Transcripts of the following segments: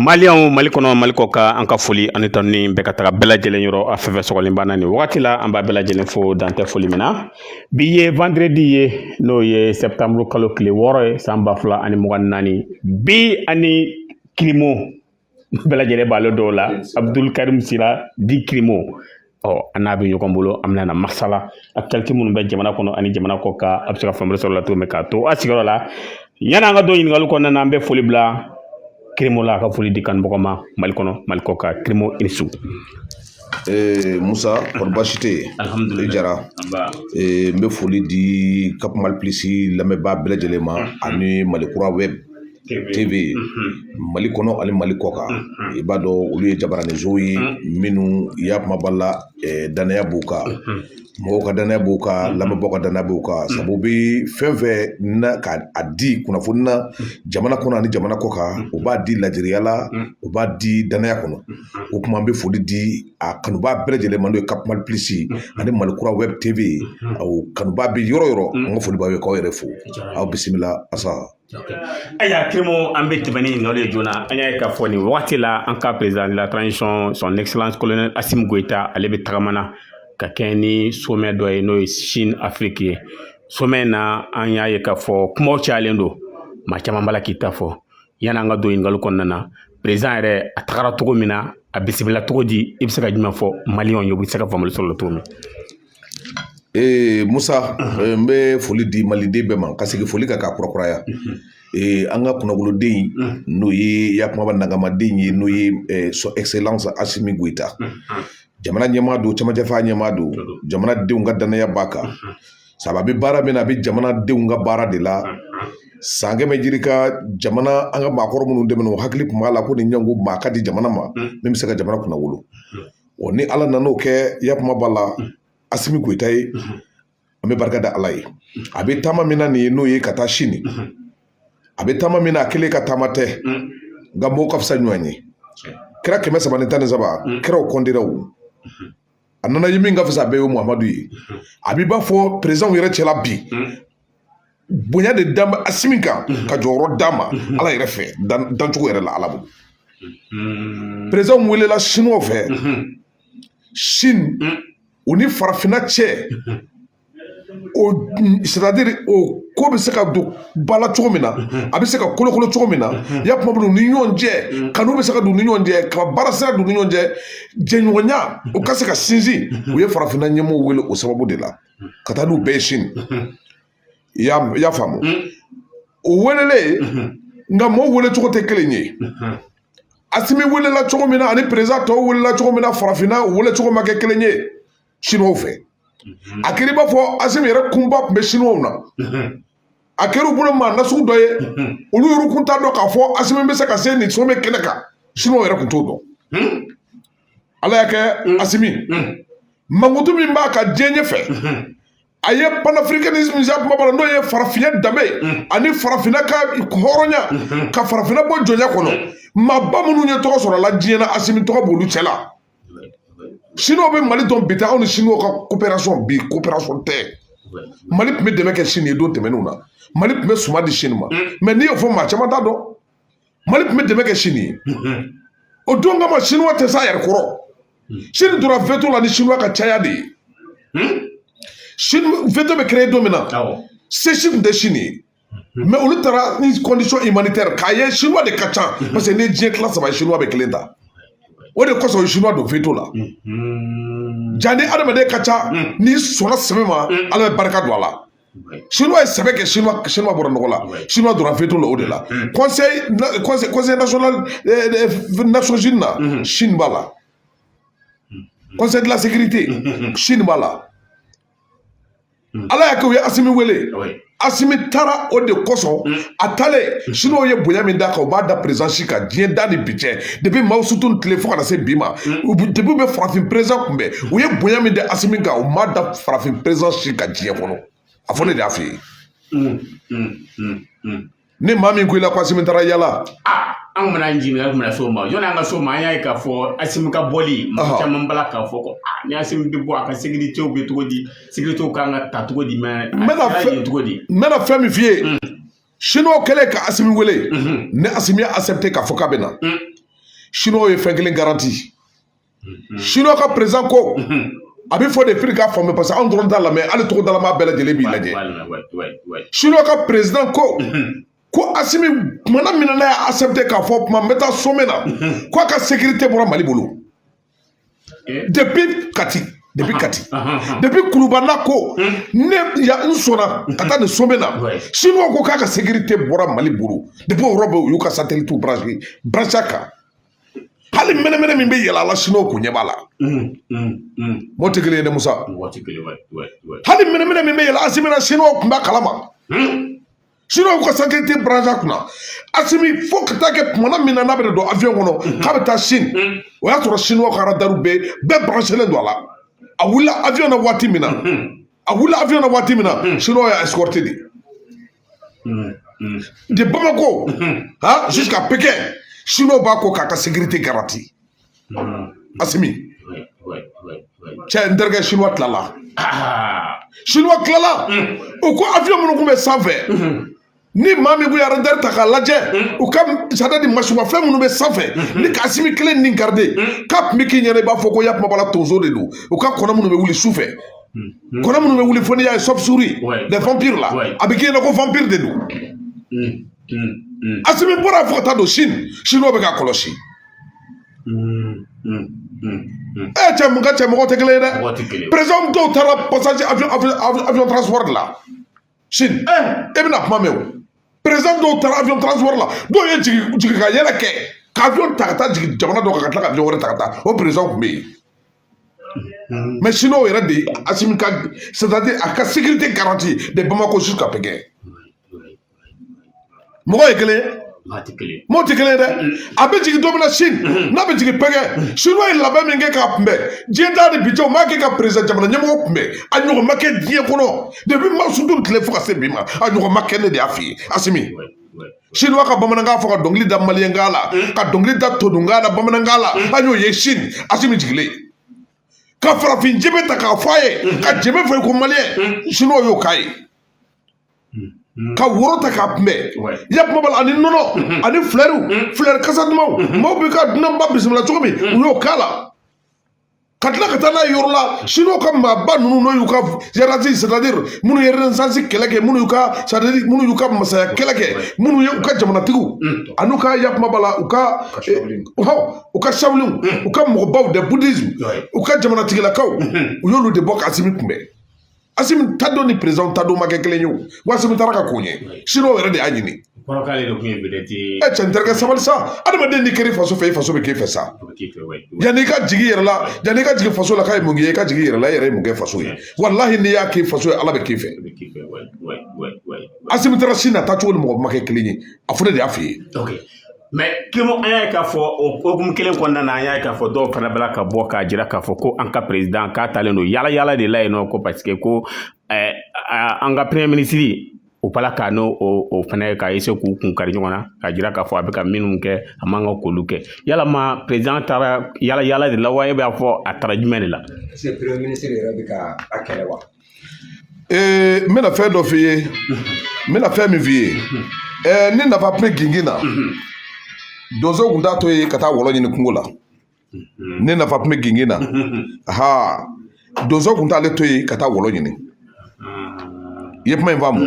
Maliyɛnw mali kɔnɔ mali kɔkan an ka foli ani tanuni bɛ ka taga bɛɛ lajɛlen yɔrɔ a fɛn fɛn sɔgɔlen b'an na nin wagati la an b'aw bɛɛ lajɛlen fo dan tɛ foli min na bi ye vandredi ye n'o ye sɛtanburu kalo tile wɔɔrɔ ye san ba fila ani mugan naani bi an ni kirimo bɛɛ lajɛlen b'ale dɔn la abudul karim sira dit kirimo ɔ an n'a bɛ ɲɔgɔn bolo an bɛna na masala actualité minnu bɛ jamana kɔnɔ ani jamana kɔkan aw bɛ se ka faamuyali sɔrɔ o la cogo min k'aw to aw sigiyɔrɔ la yanni an ka don ɲininkali kɔnɔna na an bɛ foli bila kirimo la a ka foli di kanubagaw ma mali kɔnɔ mali kɔkan kirimo i ni su ee musa kori baasi tɛ yen alihamudulila i jara ee n bɛ foli di kapu mali pilisi lamɛnbaa bɛɛ lajɛlen ma ani mali kura wɛb TV Mali kɔnɔ ani Mali kɔkan i b'a dɔn olu ye jabaraninsow ye minnu ya kuma b'a la danaya b'u kan mɔgɔw ka danaya b'u kan lamɛnbaaw ka danaya b'u kan sabu u bɛ fɛn fɛn na k'a di kunnafoni na jamana kɔnɔ ani jamana kɔkan u b'a di laadiriya la u b'a di danaya kɔnɔ o tuma an bɛ foli di a kanubaa bɛɛ lajɛlen ma n'o ye CAP Mali Plus ani Mali kura wɛb TV awɔ kanubaa bɛ yɔrɔ o yɔrɔ an ka foli b'aw ye k'aw yɛrɛ fo aw bisimila Asan. Ayiwa kirimo an bɛ tɛmɛ ni ɲininkali ye joona an y'a ye k'a fɔ nin wagati la an ka président de la transition son excellence colonel Asimi Goyita ale bɛ tagama na ka kɛɲɛ ni sommet dɔ ye n'o ye Chine Afrique ye sommet in na an y'a ye k'a fɔ kumaw cayalen don maa caman b'a la k'i ta fɔ yanni an ka don ɲininkali kɔnɔna na président yɛrɛ a tagara cogo min na a bisimila cogo di i bɛ se ka jumɛn fɔ maliyɛnw ye u bɛ se ka faamuyali sɔrɔ o la cogo min Ee musa n bɛ foli di maliden bɛɛ ma ka segin foli kan ka kurakuraya ee an ka kunnawoloden n'o ye ya kumaba nankamaden ye n'o ye son excellence asimi goyita jamana ɲɛmaa don cɛmancɛfanga ɲɛmaa don jamanadenw ka danaya b'a kan sabu a bɛ baara min na a bɛ jamanadenw ka baara de la san kɛmɛ yirika jamana an ka maakɔrɔ minnu tɛmɛna u hakili tun b'a la ko nin ɲɔgɔn maa ka di jamana ma min bɛ se ka jamana kunnawolo wa ni ala nana o kɛ ya kuma b'a la asimi goyita ye an bɛ barika da ala ye a bɛ taama min na nin ye n'o ye ka taa sini a bɛ taama min na a kelen ka taama tɛ nka mɔgɔw ka fisa ɲɔgɔn ye kira kɛmɛ saba ni tan ni saba kiraw kɔndira o a nana ye min ka fisa a bɛɛ ye muhamadu ye a b'i b'a fɔ peresidanw yɛrɛ cɛla bi bonya de da asimi kan mhm. ka jɔyɔrɔ d'a ma mhm. ala yɛrɛ fɛ dancogo yɛrɛ la ala bolo mhm. peresidanw welela siniwaw fɛ sini u ni farafinna cɛ o sɛtadiri o ko bɛ se ka don ba la cogo min na a bɛ se ka kolokolo cogo min na ya kuma b'a la u ni ɲɔgɔn cɛ kanu bɛ se ka don u ni ɲɔgɔn cɛ ka baara sira don u ni ɲɔgɔn cɛ jɛɲɔgɔnya u ka se ka sinsin u ye farafinna ɲɛmɔgɔw wele o sababu de la ka taa n'u bɛɛ ye sini i y'a faamu o welelen nka mɔw wele cogo tɛ kelen ye asimi welela cogo min na ani perezan tɔw welela cogo min na farafinna wele cogo ma kɛ kelen ye siniwaw fɛ a kɛra i b'a fɔ asimi yɛrɛ kunpa tun bɛ siniwaw na a kɛra u bolo maa nasugu dɔ ye olu yɛrɛ kun t'a dɔn k'a fɔ asimi bɛ se ka se nin somɛ kɛnɛ kan siniwaw yɛrɛ kun t'o dɔn ala y'a kɛ mm. asimi mm. mankutu min b'a kan diɲɛ ɲɛfɛ mm-hmm. a ye panafricanisme ja kuma bala n'o ye farafinya danbe mm. ani farafinna ka hɔrɔnya mm-hmm. ka farafinna bɔ jɔnya kɔnɔ maaba minnu ye tɔgɔ sɔrɔ la diɲɛ na asimi tɔgɔ b'olu cɛ la siniw bɛ mali dɔn bi tɛ anw ni siniw ka coopération bi coopération tɛ mali tun bɛ dɛmɛ kɛ sini ye don tɛmɛnenw na mali tun bɛ suman di sini ma mais n'i y'o fɔ maa caman t'a dɔn mali tun bɛ dɛmɛ kɛ sini o don kama sinuwa tɛ s'a yɛrɛ kɔrɔ sini donna veto la ni sinuwa ka caya de ye sinon veto bɛ créer don min na se si tun tɛ sini ye mais olu taara ni condition humanitaire k'a ye sinuwa de ka ca parce que ni diɲɛ tila saba ye sinuwa bɛ kelen ta o de kosɔn sinuwa don veto la jaa ni adamaden ka ca n'i sɔnna sɛbɛ ma ala bɛ barika don a la siniwa ye sɛbɛ kɛ siniwa siniwa bɔra nɔgɔ la siniwa donna veto la o de la conseil conseil national nations unies na sini b'a la conseil de la sécurité sini b'a la ala y'a kɛ u ye asimi wele asimi taara o de kosɔn a taalen siniw ye bonya min d'a kan u m'a da perezan si kan diɲɛ da ni bi cɛ depuis mao tse tung tile fo kana se bi ma depuis u bɛ farafin perezan kunbɛn u ye bonya min da asimi kan u m'a da farafin perezan si kan diɲɛ kɔnɔ a fɔ ne de y'a f'i ye ni maa min ko i la ko asimi taara yaala an kun bɛna jigin an kun bɛna s'o ma yɔrɔ an ka s'o ma an y'a ye k'a fɔ asimi ka bɔli mɔgɔ caman b'a la k'a fɔ ko ni asimi bɛ bɔ a ka sekiritew bɛ cogo di sekiritew kan ka taa cogo di mais n bɛna fɛn cogo di n bɛna fɛn min f'i ye siniw kɛlen ka asimi wele ni asimi y'a asɛpte k'a fɔ k'a bɛ na siniw ye fɛn kelen garanti siniw ka perezan ko a bɛ fɔ de fo i k'a faamu parce que anw dɔrɔn t'a lamɛn hali togodalamaa bɛɛ lajɛlen b'i lajɛ siniw ka perezan ko ko asimi kumana min na n'a y'a asɛpte k'a fɔ kuma n bɛ taa somɛ na ko a ka sekirite bɔra mali bolo depuis kati depuis kati depuis kuluba la ko n'a sɔnna ka taa nin somɛ na siniw ko k'a ka sekirite bɔra mali bolo depuis o yɔrɔ bɛɛ u y'u ka satelitiw brancher brancher kan hali mɛnɛmɛnɛ min bɛ yɛlɛ a la siniw kun ɲɛ b'a la mɔ tɛ kelen ye dɛ musa hali mɛnɛmɛnɛ min bɛ yɛlɛ asimi na siniw kun b'a kalama siniw ka satɛliti baranse a kunna asimi fo ka taa kɛ tuma na min na n'a bɛ don avion kɔnɔ k'a bɛ taa sini o y'a sɔrɔ siniw ka radariw bɛɛ bɛɛ baranselen don a la a wulila avion na waati min na a wulila avion na waati min na siniw y'a escorte de Mm, mm. De Bamako mm-hmm. ha jusqu'à Pékin chinois b'a kɔ k'a ka sécurité garantie mm-hmm. Asimi cɛ n terikɛ chinois tilala ah. chinois tilala mm. u ko avion minnu tun bɛ sanfɛ mm-hmm. ni maa min kun ye ɔridinatɛri ta k'a lajɛ u ka c'est-à-dire masinmafɛn minnu bɛ sanfɛ nin ka asimi kelennin garide k'a tun bɛ k'i ɲɛna i b'a fɔ ko yakumabala tonso de don u ka kɔnɔ minnu bɛ wuli su fɛ hmm. kɔnɔ minnu bɛ wuli fo n'i y'a ye chauve-souris les vampires la a bɛ k'i ɲɛna ko vampire de don asimi bɔra fo ka taa don sini siniw bɛ k'a kɔlɔsi ɛ cɛ mun ka cɛ mɔgɔ tɛ kelen ye dɛ perezanw dɔw taara pasaje avion transport de la sini e bɛna kuma mɛn o perezan dɔw taara avion transport la dɔw ye jigin jigin ka yɛlɛ kɛ ka avion ta ka taa jigin jamana dɔ kan ka tila ka avion wɛrɛ ta ka taa o perezan tun bɛ yen mɛ siniw yɛrɛ de asimi ka a ka sekirite garanti de bamako jusqu'à pékin mɔgɔ ye kelen mɔgɔ tɛ kelen dɛ a bɛ jigin don min na sini n'a bɛ jigin pékin siniw ye labɛn min kɛ k'a kunbɛn diɲɛ t'a de bi jɔ m'a kɛ ka perezida jamana ɲɛmɔgɔ kunbɛn a ɲɔgɔn ma kɛ diɲɛ kɔnɔ depi mao tsé-toung tile fo ka se bi ma a ɲɔgɔn ma kɛ ne de y'a f'i ye asimi siniw ka bamanankan fɔ ka dɔnkili da maliyɛnkan la ka dɔnkili da todunkan na bamanankan la an y'o ye sini asimi jigilen ka farafin jenbe ta k'a fɔ a ye ka jenbe fɔ ko maliyɛn siniw y'o k'a ye ka woro ta k'a kunbɛn ya kuma b'a la ani nɔnɔ ani filɛriw filɛri kasa dumanw maaw bɛ ka dunanba bisimila cogo min u y'o k'a la ka tila ka taa n'a ye yɔrɔ la siniw ka maaba ninnu n'o y'u ka hiérarchie sadadiri minnu ye renaissance kɛlɛ kɛ minnu y'u ka sadadiri minnu y'u ka masaya kɛlɛ kɛ minnu ye u ka jamanatigiw an'u ka yakumaba la u ka hɔ u ka shaolinw u ka mɔgɔbaw de bouddhisme u ka jamanatigilakaw u y'olu de bɔ k'asimi kunbɛn asimi taa don ni perezanw taa don ma kɛ kelen ye o asimi taara ka ko ɲɛ siniw yɛrɛ de y'a ɲini kɔrɔkɛ de kun ye bɛrɛti ye ɛ cɛ i tɛ sabali sa adamaden n'i kɛr'i faso fɛ i faso bɛ k'e fɛ sa yanni i k'a ɲini yɛrɛ la yanni i k'a ɲini faso la k'a ye mun kɛ i k'a ɲini yɛrɛ la i yɛrɛ ye mun kɛ faso ye walahi n'i y'a k'i faso ye ala bɛ k'i fɛ asimi taara sini a taa cogo ni mɔgɔ ma kɛ kelen ye a fɔ ne de y'a f'i ye mɛ kemu an y'a ye k'a fɔ o hukumu kelen kɔnɔna na an y'a ye k'a fɔ dɔw fana b'a la ka bɔ k'a jira k'a fɔ ko an ka perezidan k'a taalen don yala yala de la yen nɔ ko parce que ko eh, an ka premier minisiri u b'a la ka n'o o fana ka ese k'u kun kari ɲɔgɔn na k'a jira k'a fɔ a bɛ ka minnu kɛ a man kan k'olu kɛ yala ma perezidan taara yala yala de la wa e b'a fɔ a taara jumɛn de la. est ce que premier minisiri yɛrɛ bɛ ka a kɛlɛ wa. Ee n bɛna fɛn dɔ f'i ye n bɛna fɛn min f'i ye ɛɛ ni nafa tun bɛ gingin na donso tun t'a to yen ka taa wɔlɔ ɲini kungo la ni nafa tun bɛ gingin na aa donso tun t'ale to yen ka taa wɔlɔ ɲini i ye kuma in faamu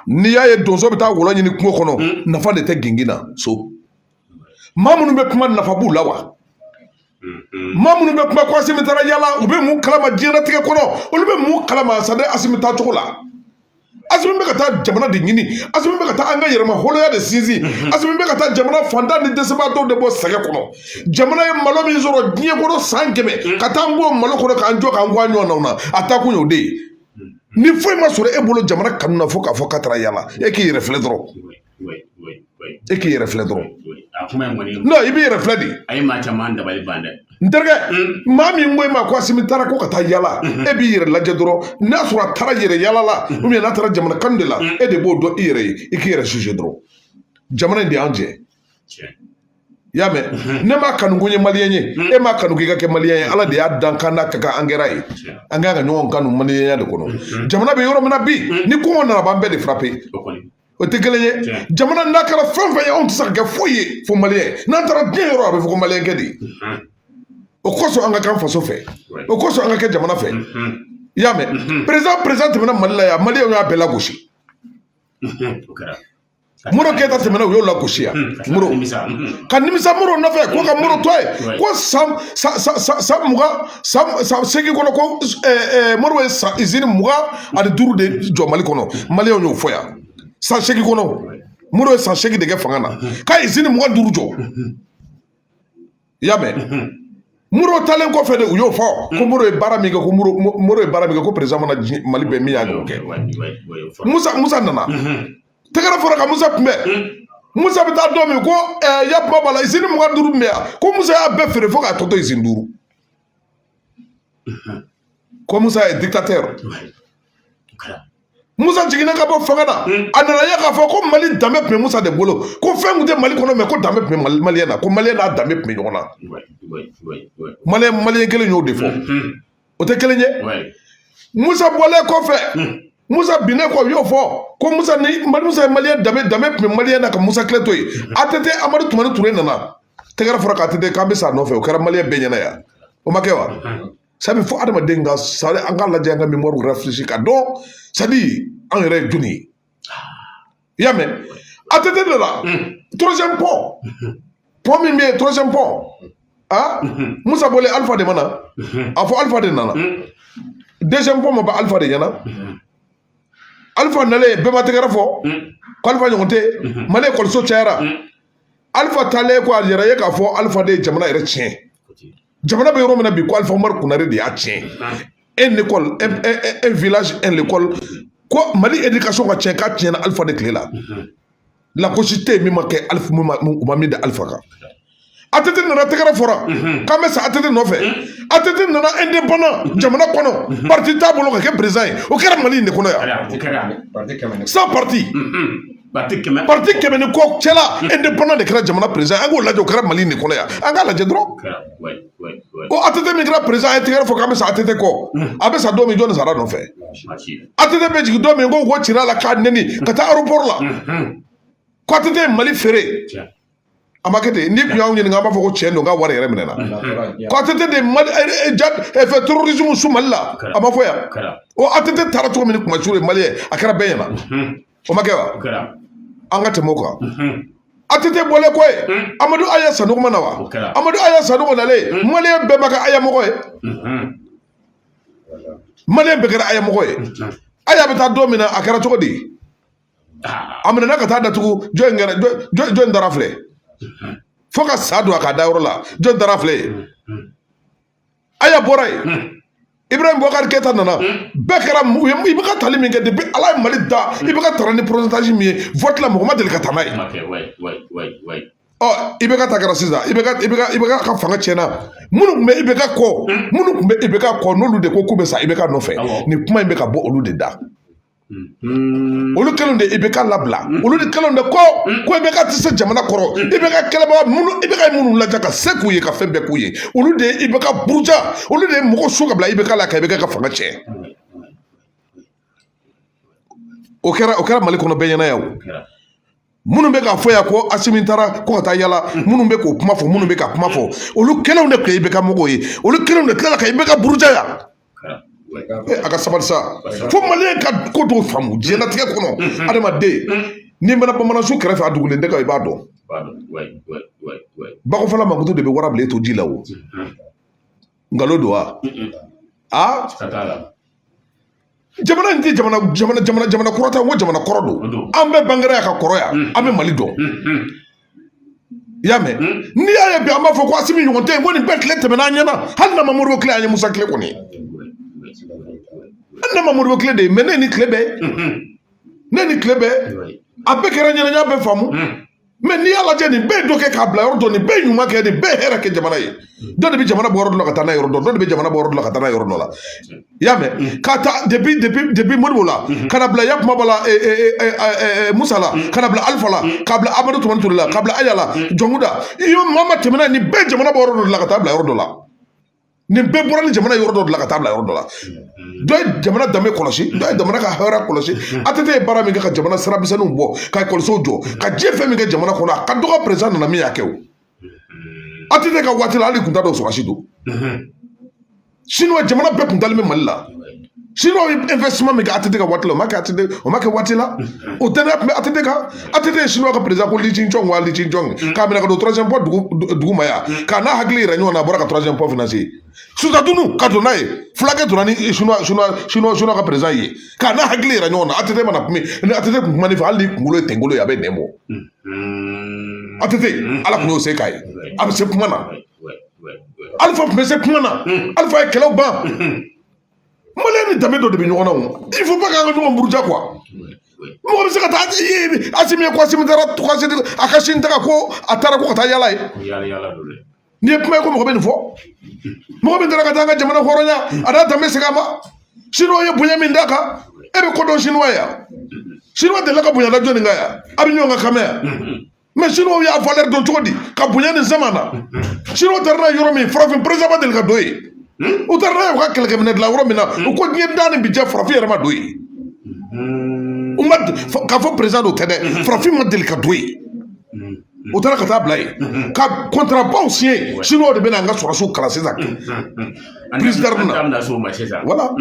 n'i y'a ye donso bɛ taa wɔlɔ ɲini kungo kɔnɔ nafa de tɛ gingin na so maa minnu bɛ kuma nafa b'u la wa mm-hmm. maa minnu bɛ kuma ko asimi taara yala u bɛ mun kalama diɲɛlatigɛ kɔnɔ olu bɛ mun kalama sa dɛ asimi taa cogo la asimi bɛ ka taa jamana de ɲini asimi bɛ ka taa an ka yɛrɛmahɔrɔnya de sinsin mm-hmm. asimi bɛ ka taa jamana fantan ni dɛsɛbaatɔw de bɔ sɛgɛn kɔnɔ jamana ye malo min sɔrɔ diɲɛ kɔnɔ san kɛmɛ mm-hmm. ka taa an bɔ malo kɔnɔ k'an jɔ k'an kɔ an ɲɔgɔnnaw na a taa kun y'o de ye ni foyi ma sɔrɔ e bolo jamana kanu na fo k'a fɔ k'a taara yala e k'i yɛrɛ filɛ dɔrɔn e k'i yɛrɛ filɛ dɔrɔn i b'i yɛrɛ filɛ de a ye maa caman dabali ban dɛ n terikɛ maa min ko e ma ko asimi taara ko ka taa yala e b'i yɛrɛ lajɛ dɔrɔn n'a sɔrɔ a taara yɛrɛ yala la n'a taara jamana kan de la e de b'o dɔn i yɛrɛ ye i k'i yɛrɛ sise dɔrɔn jamana in de y'an jɛ i y'a mɛn ne m'a kanu ko n ye maliyɛn ye e m'a kanu k'i ka kɛ maliyɛn ye ala de y'a dakan n'a ka kan an kɛra ye an kan ka ɲɔgɔn kanu maliyɛnya de kɔnɔ jamana bɛ yɔrɔ min na bi ni kɔngɔ nana a b'an bɛɛ de furan pe o tɛ kelen ye jamana n'a kɛra fɛn o fɛn ye anw tɛ se ka kɛ foyi ye fo maliyɛn n'an taara diɲɛ yɔrɔ a bɛ fɔ ko maliyɛn kɛ de o kosɔn an ka kɛ faso fɛ o kosɔn an ka kɛ jamana fɛ i y'a mɛn perezidan perezidan tɛmɛna mali la yan maliyɛnw y'a bɛɛ lagosi modibo keyita tɛmɛna u y'o lagosi yan sɔrɔ ka nimisa modibo nɔfɛ ko ko modibo tun ye ko san san san mugan san san seegin kɔnɔ ko modibo ye san izini mugan ani duuru de jɔ mali kɔnɔ maliyɛnw y'o fɔ yan san seegin kɔnɔ modibo ye san seegin de kɛ fanga na ka izini mugan duuru jɔ i y'a mɛn modibo taalen kɔfɛ de u y'o fɔ ko modibo ye baara min kɛ ko modibo ye baara min kɛ ko perezidan ma na mali bɛɛ min y'a ɲɔgɔn kɛ musa musa nana tɛgɛrɛ fɔra ka musa kunbɛn musa bɛ taa don min ko ɛɛ ya kuma b'a la izini mugan duuru tun bɛ yan ko musa y'a bɛɛ feere fo k'a tɔ to izini duuru ko musa ye dictateur musa jiginna ka bɔ fanga na a nana ye k'a fɔ ko mali danbe tun bɛ musa de bolo ko fɛn tun tɛ mali kɔnɔ mɛ ko danbe tun bɛ maliyɛn na ko maliyɛn n'a danbe tun bɛ ɲɔgɔn na maliyɛn maliyɛn kelen y'o de fɔ o tɛ kelen ye musa bɔlen kɔfɛ hmm. musa binnen kɔ u y'o fɔ ko musa ni musa ye maliyɛn danbe danbe tun bɛ maliyɛn na ka musa tile to yen hmm. atete amadu tumani ture nana tɛgɛrɛ fɔra ko atete k'an bɛ sa nɔfɛ o kɛra maliyɛn bɛɛ ɲɛna yan o ma kɛ wa hmm. sabu fo adamaden ka sari an k'a lajɛ an ka mémoire rafraîchir k'a dɔn sabu an yɛrɛ ye jɔnni ye i y'a mɛn atete de la troisième pont pont min bɛ yen troisième pont a musa bɔlen alifa de ma na a fɔ alifa de nana deuxième pont ma ban alifa de ɲɛna alifa nalen bɛɛ ma tɛgɛrɛ fɔ k'alifa ɲɔgɔn tɛ mali ekɔliso cayara alifa taalen kɔ a yɛrɛ ye k'a fɔ alifa de ye jamana yɛrɛ tiɲɛ jamana bɛ yɔrɔ min na bi ko alifa umaru konare de y'a tiɲɛ un école un village un école ko mali éducation ka tiɲɛ k'a tiɲɛna alifa de tile la lagosi tɛ yen min ma kɛ alifa u ma min da alifa kan atete nana tɛgɛrɛ fɔra k'an bɛ sa atete nɔfɛ atete nana indépendant jamana kɔnɔ parti t'a bolo ka kɛ président ye o kɛra mali in de kɔnɔ yan sans parti parti kɛmɛ parti kɛmɛ ni kɔ cɛla indépendant de kɛra jamana président an k'o lajɛ o kɛra mali de kɔnɔ yan an k'a lajɛ dɔrɔn ko atete min kɛra président a ye tɛgɛrɛ fɔ k'an bɛ sa atete kɔ a bɛ sa don min jɔnni sara nɔfɛ atete bɛ jigin don min ko ko cira la k'a neni ka taa aéroport la ko atete ye mali feere a ma kɛ ten n'i kun y'anw ɲininka an b'a fɔ ko cɛn don k'a wari yɛrɛ minɛna ko atete de mali janfa terrorisme su mali la a ma fɔ yan o atete taara cogo min ni kuma su ye mali ye a kɛra bɛɛ ɲɛna o ma kɛ wa an ka tɛmɛ o kan atete bɔlen kɔ yen amadu aya sanogo ma na wa amadu aya sanogo nalen maliyɛn bɛɛ ma kɛ aya mɔgɔ ye maliyɛn bɛɛ kɛra aya mɔgɔ ye aya bɛ taa don min na a kɛra cogo di a minɛna ka taa datugu jɔnni kɛra jɔnni taara a filɛ fo ka sa don a ka dayɔrɔ la jɔn taara a filɛ aya bɔra yen ibrahim bɔkari keyita nana bɛɛ kɛra ibeka tali min kɛ depuis ala ye mali da ibeka taara ni pourcentage min ye vote la mɔgɔ ma deli ka taa n'a ye ɔ ibeka ta kɛra sisan ibeka ibeka ibeka ka fanga tiɲɛna minnu tun bɛ ibeka kɔ minnu tun bɛ ibeka kɔ n'olu de ko k'u bɛ sa ibeka nɔfɛ nin kuma in bɛ ka bɔ olu de da Mm-hmm. olu kelenw de ibeka labila mm-hmm. olu de kelenw de ko mm-hmm. ko ibeka tɛ se jamana kɔrɔ ibeka kɛlɛbaga minnu ibeka minnu lajɛ ka se k'u ye ka fɛn bɛɛ k'u ye olu de ibeka buruja olu de ye mɔgɔ su ka bila ibeka la ka ibeka fanga tiɲɛ o kɛra o kɛra mali kɔnɔ bɛɛ ɲɛna yan o minnu bɛ k'a fɔ yan ko asimi taara ko ka taa yala minnu bɛ k'o kuma fɔ minnu bɛ ka kuma fɔ olu kelenw de tun ye IBK mɔgɔw ye olu kelenw de tilala ka IBK buruja yan a ka sabali sa fo maliyɛn ka ko dɔw faamu diɲɛlatigɛ kɔnɔ adamaden n'i mɛna banansun kɛrɛfɛ a dugulen tɛ ka i b'a dɔn bakɔfɔla makutu de bɛ warabilen to ji la o nkalon don wa a jamana in tɛ jamana jamana jamana jamana kura tɛ ko jamana kɔrɔ don an bɛɛ bangera yan ka kɔrɔ yan mm. an bɛ mali dɔn mm, mm. i y'a mɛn n'i y'a ye bi an b'a fɔ ko asimi ɲɔgɔn tɛ yen ko nin bɛɛ tile tɛmɛna an ɲɛna hali n'an ma modibo tile an ye musa tile kɔni hali n'an ma modibo tile de ye mɛ ne ni tile bɛɛ ne ni tile bɛɛ a bɛɛ kɛra an ɲɛna yan i b'a faamu mɛ n'i y'a lajɛ nin bɛɛ dɔ kɛ k'a bila yɔrɔ dɔ nin bɛɛ ɲuman kɛ nin bɛɛ hɛrɛ kɛ jamana ye dɔ de bɛ jamana bɔ yɔrɔ dɔ la ka taa n'a yɔrɔ dɔ dɔ de bɛ jamana bɔ yɔrɔ dɔ la ka taa n'a yɔrɔ dɔ la i y'a mɛn ka taa depi depi depi modibo la ka na bila yakuma bala musa la ka na bila alifa la ka bila amadu tumani ture la ka bila aya la jɔnkunda i ye maa ma tɛmɛna nin bɛɛ jamana bɔ yɔrɔ dɔ la ka taa bila yɔrɔ dɔ la nin bɛɛ bɔra ni jamana yɔrɔ dɔ de la ka taa bila yɔrɔ dɔ la dɔ ye jamana danbe kɔlɔsi dɔ ye jamana ka hɛrɛ kɔlɔsi ATT ye baara min kɛ ka jamana siramisɛnninw bɔ ka ekɔlisow jɔ ka diɲɛ fɛn min kɛ jamana kɔnɔ a ka dɔgɔ perezan nana min y'a kɛ o ATT ka waati la hali kun t'a dɔn sɔrɔsi don siniwa jamana bɛɛ kun dalen bɛ mali la sini ye investissement min kɛ ATT ka waati la o ma kɛ ATT o ma kɛ waati la o danaya tun bɛ ATT kan ATT ye siniwaw ka président ko Li Jin-chong wa Li Jin-chong k'a minɛ ka don troisième pont dugu duguma yan k'a n'a hakili yira ɲɔgɔn na a bɔra ka troisième pont financer sutadunu ka don n'a ye fulakɛ donna ni siniwa siniwa siniwa siniwa ka président ye k'a n'a hakili yira ɲɔgɔn na ATT mana kuma ni ATT kun kuma ne fɛ hali ni kunkolo ye tɛnkolo ye a bɛ nɛn bɔ ATT ala tun y'o se k'a ye a bɛ se kuma na Alifa tun bɛ se kuma na Alifa ye kɛlɛw ban. maliyɛn ni danbe dɔ de bɛ ɲɔgɔn na o il faut pas k'an ka ɲɔgɔn buruja quoi mɔgɔ bɛ se ka taa i ye asimi ye ko asimi taara tukasi a ka sini taga ko a taara ko ka taa yala yen nin ye kuma ye ko mɔgɔ bɛ nin fɔ mɔgɔ min taara ka taa an ka jamana hɔrɔnya a n'a danbe segin a ma siniwa ye bonya min d'a kan e bɛ ko dɔn siniwa ye yan siniwa delila ka bonya da jɔnni kan yan an bɛ ɲɔgɔn ka kan mɛn yan mɛ siniwaw y'a valɛri don cogo di k'a bonya nin sama na siniwaw taara n'a ye yɔrɔ min farafin perezan ma deli ka don yen hmm? u taara n'a ye u ka kɛlɛkɛminɛn dilan yɔrɔ min na hmm? u ko diɲɛ da ni bi cɛ farafin yɛrɛ ma don yen hmm. u ma k'a fɔ perezan don tɛ dɛ farafin ma deli ka don yen u taara ka taa bila yen ka kɔntarabaw siɲɛ siniwaw de bɛna an ka sɔrɔsiw kalan sisan an da so ma sisan wala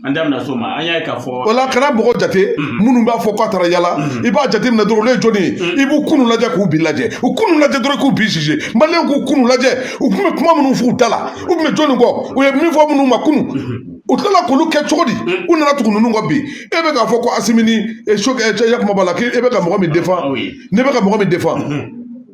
an da so ma an y'a ka fɔ wala kana mɔgɔ jate minnu b'a fɔ k'a taara yala i b'a jate minɛ dɔrɔn olu ye jɔni ye i b'u kunun lajɛ k'u bi lajɛ u kunun lajɛ dɔrɔn k'u bi sise maliyɛn k'u kunun lajɛ u tun bɛ kuma minnu f'u da la u tun bɛ jɔni kɔ u ye min fɔ minnu ma kunun u tilala k'olu kɛ cogo di u nana tugu ninnu kɔ bi e bɛ k'a fɔ ko asimi ni sokɛli cɛ yakuma b'a la k'e bɛ ka mɔgɔ min defan ne bɛ ka mɔgɔ min defan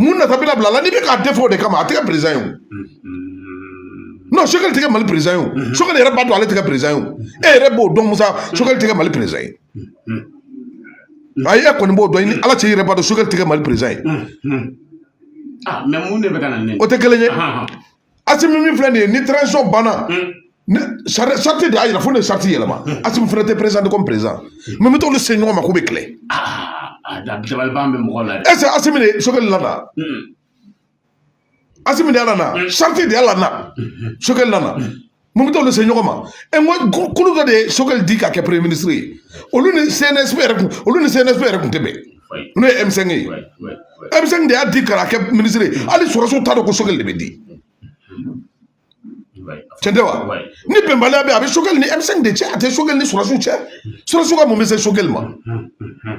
mun nata bɛna bila la n'i bɛ k'a de fɔ o de kama a tɛ kɛ perezidan ye o non sokɛli tɛ kɛ mali perezidan ye o sokɛli yɛrɛ b'a dɔn ale tɛ kɛ perezidan ye o e yɛrɛ b'o dɔn musa sokɛli tɛ kɛ mali perezidan ye ayi e kɔni b'o dɔn i ni ala cɛ i yɛrɛ b'a dɔn sokɛli tɛ kɛ mali perezidan ye o tɛ kelen ye asimi min filɛ nin ye ni transition banna sariti de y'a yira fo ni sariti yɛlɛma asimi fana tɛ présenter comme perezidan mɛ mun bɛ t'olu se ɲɔgɔn ma k'u bɛ kɛlɛ ɛsɛ asimi de sokɛli lana asimi de y'a lana sariti de y'a lana sokɛli lana mun bɛ t'olu se ɲɔgɔn ma e n ko kulu dɔ de ye sokɛli di ka kɛ premier ministre ye olu ni cnsp yɛrɛ kun olu ni cnsp yɛrɛ kun tɛ bɛn n'o ye m5 ye m5 de y'a di ka kɛ minisiri ye hali sɔrɔdasiw t'a dɔn ko sokɛli de bɛ di cɛn tɛ wa ni bɛnbaliya bɛ a bɛ sokɛli ni m5 de cɛ a tɛ sokɛli ni sɔrɔdasiw cɛ sɔrɔdasiw ka mun bɛ se sokɛli ma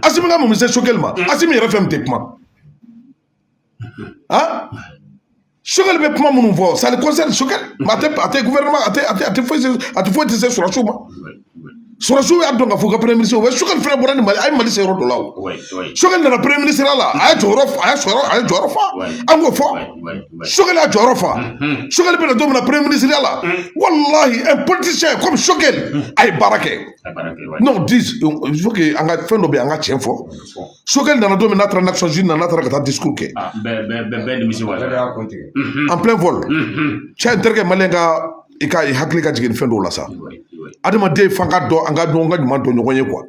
asimi ka mun bɛ se sokɛli ma asimi yɛrɛ fɛn min tɛ kuma ah sokɛli bɛ kuma minnu fɔ ça le concerne sokɛli a tɛ a tɛ gouvernement a tɛ a tɛ a tɛ foyi a tɛ foyi tɛ se sɔrɔdasiw ma sɔrɔdasiw y'a dɔn k'a fɔ ko premier ministre o bɛ sokɛli fana bɔra ni mali a ye mali se yɔrɔ dɔ la o sokɛli nana premier ministre ya la a ye jɔyɔrɔ a ye sɔrɔ a y'a jɔyɔrɔ fa an k'o fɔ sokɛli y'a jɔyɔrɔ fa sokɛli bɛna don min na premier ministre ya la walahi un politicien comme sokɛli a ye baara kɛ n'o di il faut que an ka fɛn dɔ bɛ yen an ka tiɲɛ fɔ sokɛli nana don min n'a taara nations unies na n'a taara ka taa discours kɛ bɛɛ nimisi wasa en plein vol cɛ n terikɛ mali ka i ka hakili ka jigin fɛn dɔw la sa adamaden fan ka dɔn an ka ɲɔgɔn ka ɲuman dɔn ɲɔgɔn ye kuwa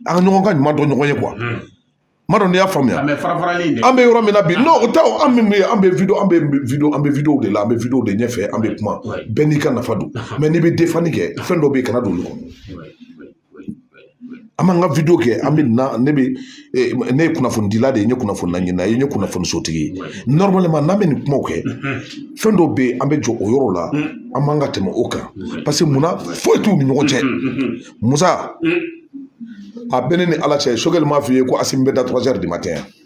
an ka ɲɔgɔn ka ɲuman dɔn ɲɔgɔn ye kuwa ma dɔn n'i y'a faamuya an bɛ yɔrɔ min na bi n'o o tɛ an min bɛ an bɛ video an bɛ video an bɛ video de la an bɛ video de ɲɛfɛ an bɛ kuma bɛɛ n'i ka nafa don mɛ n'i bɛ defani kɛ fɛn dɔ bɛ yen kana don olu kɔnɔ an b'an ka wideyo kɛ an bɛ na ne bɛ ne ye kunnafonidila de ye n ye kunnafoni ɲinina ye n ye kunnafoni sotigi ye normalement n'an bɛ nin kumaw kɛ fɛn dɔw bɛ yen an bɛ jɔ o yɔrɔ la an man kan ka tɛmɛ o kan paseke munna foyi t'u ni ɲɔgɔn cɛ musa a bɛ ne ni ala cɛ sokɛli m'a f'i ye ko asimi bɛ da trois heures du matin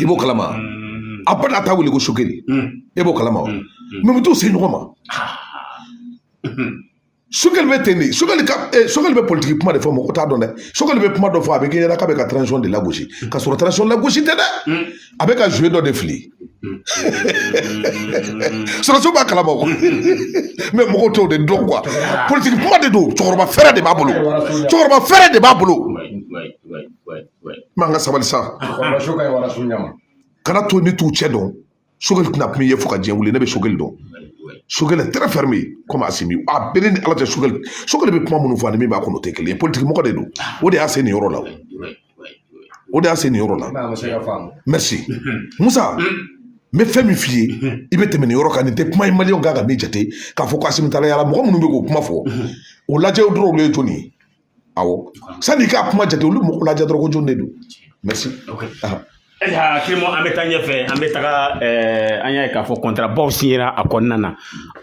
i b'o kalama a ba n'a ta wuli ko sogɛli e b'o kalama wa mɛ u t'u se ɲɔgɔn ma sogɛli bɛ ten de sogɛli ka sogɛli bɛ politiki kuma de fɔ mɔgɔ t'a dɔn dɛ sogɛli bɛ kuma dɔ fɔ a bɛ k'i ɲɛna k'a bɛ ka transition de lagosi ka sɔrɔ transition lagosi tɛ dɛ a bɛ ka zuwe dɔ de fili sɔrɔdasiw b'a kalama o mɛ mɔgɔw t'o de dɔn kuwa politiki kuma de don cɛkɔrɔba fɛɛrɛ de b'a bolo cɛkɔrɔba fɛɛrɛ de b'a bolo man ka sabali sa kana to ni t'u cɛ dɔn sogɛli tɛna kun ye fo ka jɛn wuli ne bɛ sogɛli dɔn sogɛli tɛrɛ fɛrɛ mi komi asimi a bɛɛ ni ala tɛ sogɛli sogɛli bɛ kuma minnu fɔ ani min b'a kɔnɔ o tɛ kelen ye politiki mɔgɔ de don o de y'a se nin yɔrɔ la o de y'a se nin yɔrɔ la merci musa n bɛ fɛn min f'i ye i bɛ tɛmɛ nin yɔrɔ kan nin tɛ kuma ye maliyɛnw kan ka min jate k'a fɔ ko asimi taala yaala mɔgɔ minnu bɛ k'o kuma fɔ olu lajɛ dɔrɔn olu ye jɔni ye awɔ sani i ka kuma jate olu mɔgɔ lajɛ dɔrɔn ko jɔn de don merci ayiwa kimo an bɛ taa ɲɛfɛ an bɛ taga eh, an y'a ye k'a fɔ kɔntarabaw sinyera a kɔnɔna na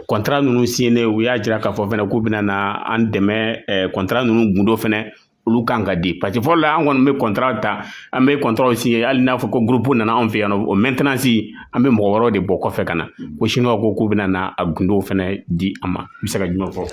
kɔntara ninnu sinyenen u y'a jira k'a fɔ fɛnɛ k'u bɛna na an dɛmɛ eh, kɔntara ninnu gundo fɛnɛ olu kan ka di parce que fɔlɔ la an kɔni bɛ kɔntara ta an bɛ kɔntaraw sinye hali n'a fɔ ko gurupu nana anw fɛ yan nɔ o mɛntenansi an bɛ mɔgɔ wɛrɛw de bɔ kɔfɛ ka na ko siniwaw ko k'u bɛna na a gundow fɛnɛ di an ma n bɛ se ka jumɛn fɔ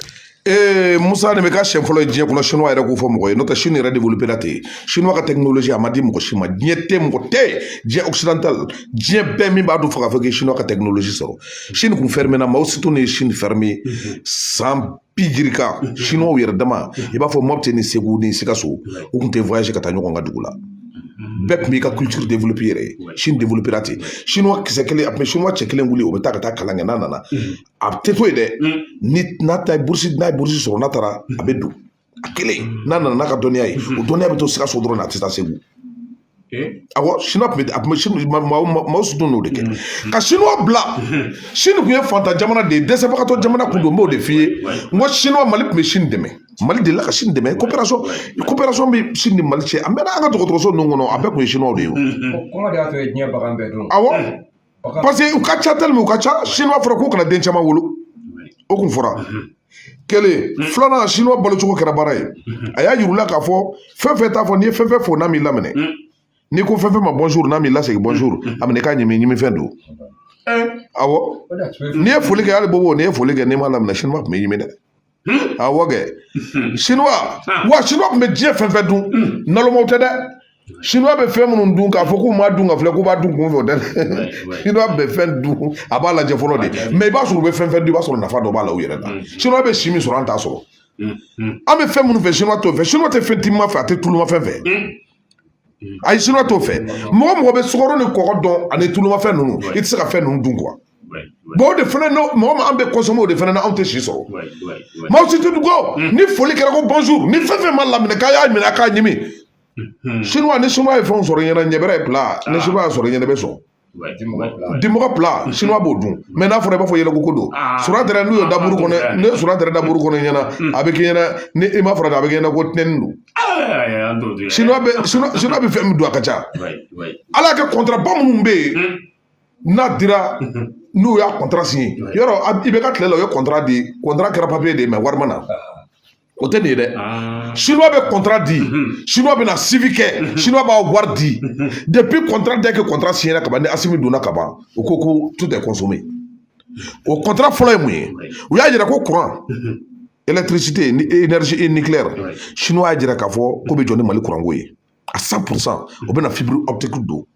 ee musa de bɛ kɛ siɲɛ fɔlɔ diɲɛ kɔnɔ sinuwa yɛrɛ k'o fɔ mɔgɔ ye n'o tɛ sini yɛrɛ de bolo bɛɛ la ten sinuwa ka tɛkinoloji a ma di mɔgɔ si ma diɲɛ tɛ mɔgɔ tɛ diɲɛ ɔkisidantal diɲɛ bɛɛ min b'a da fa k'a fɔ k'i sinuwa ka tɛkinoloji sɔrɔ sini kun fɛrimina mawo setun ye sini fɛrimi san bi duuru kan sinuwaw yɛrɛ dama i b'a fɔ mɔpiti ni segu ni sikaso u kun tɛ voyage ka taa ɲɔgɔn ka dugu la bɛɛ tun b'i ka culture développer i yɛrɛ ye sini développer ten sinuwa kisɛ kelen a tun bɛ sinuwa cɛ kelen wuli o bɛ taa ka taa kalan kɛ n'a nana a tɛ to yen dɛ ni n'a ta ye burusi n'a ye burusi sɔrɔ n'a taara a bɛ dɔnniya kalan n'a nana n'a ka dɔnniya ye o dɔnniya bɛ to sikaso dɔrɔn na a tɛ taa segu awɔ sini tun bɛ a tun bɛ sini mawo setun y'o de kɛ ka sini dilan sini tun ye fantan jamana de ye dɛsɛbagatɔ jamana kun don n b'o de f'i ye n ko sini mali tun bɛ sini dɛmɛ mali delila ka sini dɛmɛ koperasɔn koperasɔn bɛ sini ni mali cɛ an bɛ an ka dɔgɔtɔrɔso ninnu kɔnɔ a bɛɛ tun ye sinuwaw de ye o awɔ parce que u ka ca tellement u ka ca sini a fɔra k'u kana den caman wolo o kun fɔra kelen filanan sinuwa balocogo kɛra baara ye a y'a yir'u la k'a fɔ fɛn fɛn t'a fɔ n'i ye fɛn fɛn fo n'a m'i laminɛ n'i ko fɛn fɛn ma bonjour n'a m'i lasegin bonjour a minɛ k'a ɲimi ɲimi fɛn don awɔ n'i ye foli kɛ hali bobo n'i ye foli kɛ n'i m'a laminɛ sinuwa tun b'i ɲimi dɛ awɔ kɛ sinuwa wa sinuwa tun bɛ diɲɛ fɛn fɛn dun nalomaw tɛ dɛ sinuwa bɛ fɛn minnu dun k'a fɔ k'u ma dun ka filɛ k'u b'a dun kunfɛ o tɛ dɛ sinuwa bɛ fɛn dun a b'a lajɛ fɔlɔ de mɛ i b'a sɔrɔ u bɛ fɛn fɛn dun i b'a sɔrɔ nafa dɔ b'a la u yɛrɛ la sinuwa bɛ si min sɔrɔ an t'a sɔrɔ an bɛ fɛn minnu fɛ sinuwa t'o fɛ sinuwa tɛ fɛn timiman fɛ a tɛ tulumafɛn fɛ ayi siniwa t'o fɛ mɔgɔ mɔgɔ bɛ sukaro ni kɔgɔ dun ani tulumafɛn ninnu i tɛ se ka fɛn ninnu dun kuwa o de fana mɔgɔ min an bɛ kɔnsɔme o de fana anw tɛ si sɔrɔ maaw si tɛ dugɔ hmm. ni foli kɛra ko bonjour ni fɛn fɛn ma laminɛ k'a y'a minɛ k'a ɲimi siniwa ni siniwa ye fɛnw sɔrɔ ɲɛna ɲɛbɛrɛ ye bila ni siniwa y'a sɔrɔ ɲɛnɛ bɛ sɔrɔ dimɔgɔ bila sini b'o dun mɛ n'a fɔra i b'a fɔ yɛlɛko ko don sura tɛ n'u ye daburu kɔnɔ ne sɔrɔ tɛ daburu kɔnɔ ɲɛna a bɛ k'i ɲɛna ni i m'a fɔ a bɛ kɛ ɲɛna ko tɛni don sini bɛ fɛn min dun a ka ca ala kɛ kɔntaraba minnu bɛ yen n'a dira n'u y'a kɔntara sigi yɔrɔ i bɛ ka tile la o ye kɔntara de ye kɔntara kɛra papiye de ye mɛ wari ma na o tɛ nin ye dɛ sinuwa bɛ kɔntara di sinuwa bɛna suivi kɛ sinuwa b'a wari di depuis kɔntara da kɛ kɔntara siɲɛ ka ban ni asimi donna ka ban u ko ko tout est consommé o kɔntara fɔlɔ ye mun ye u y'a yira ko kuran electricité ni énergie et nucléaire chinois y'a jira k'a fɔ k'u bɛ jɔ ni mali kuranko ye à cent pour cent u bɛna fibiri ɔpitikiw don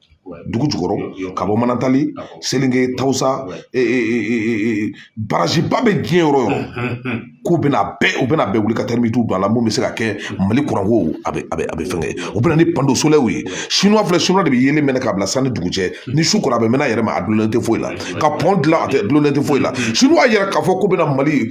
dugu jukɔrɔ ka bɔ manantali selenge tawusa baraziba bɛ diɲɛ yɔrɔ yɔrɔ k'u bɛna bɛɛ u bɛna bɛɛ wuli ka tɛrimiki don a la min bɛ se ka kɛ mali kuranko a bɛ a bɛ a bɛ fɛn kɛ u bɛna ni pano solɛriw ye sinuwa filɛ sinuwa de bɛ yelen mɛnɛ ka bila sanni dugu jɛ ni su kora a bɛ mɛn a yɛrɛ ma a dulonnen tɛ foyi la ka pɔn dilan a tɛ dulonnen tɛ foyi la sinuwa yɛrɛ k'a fɔ k'u bɛna mali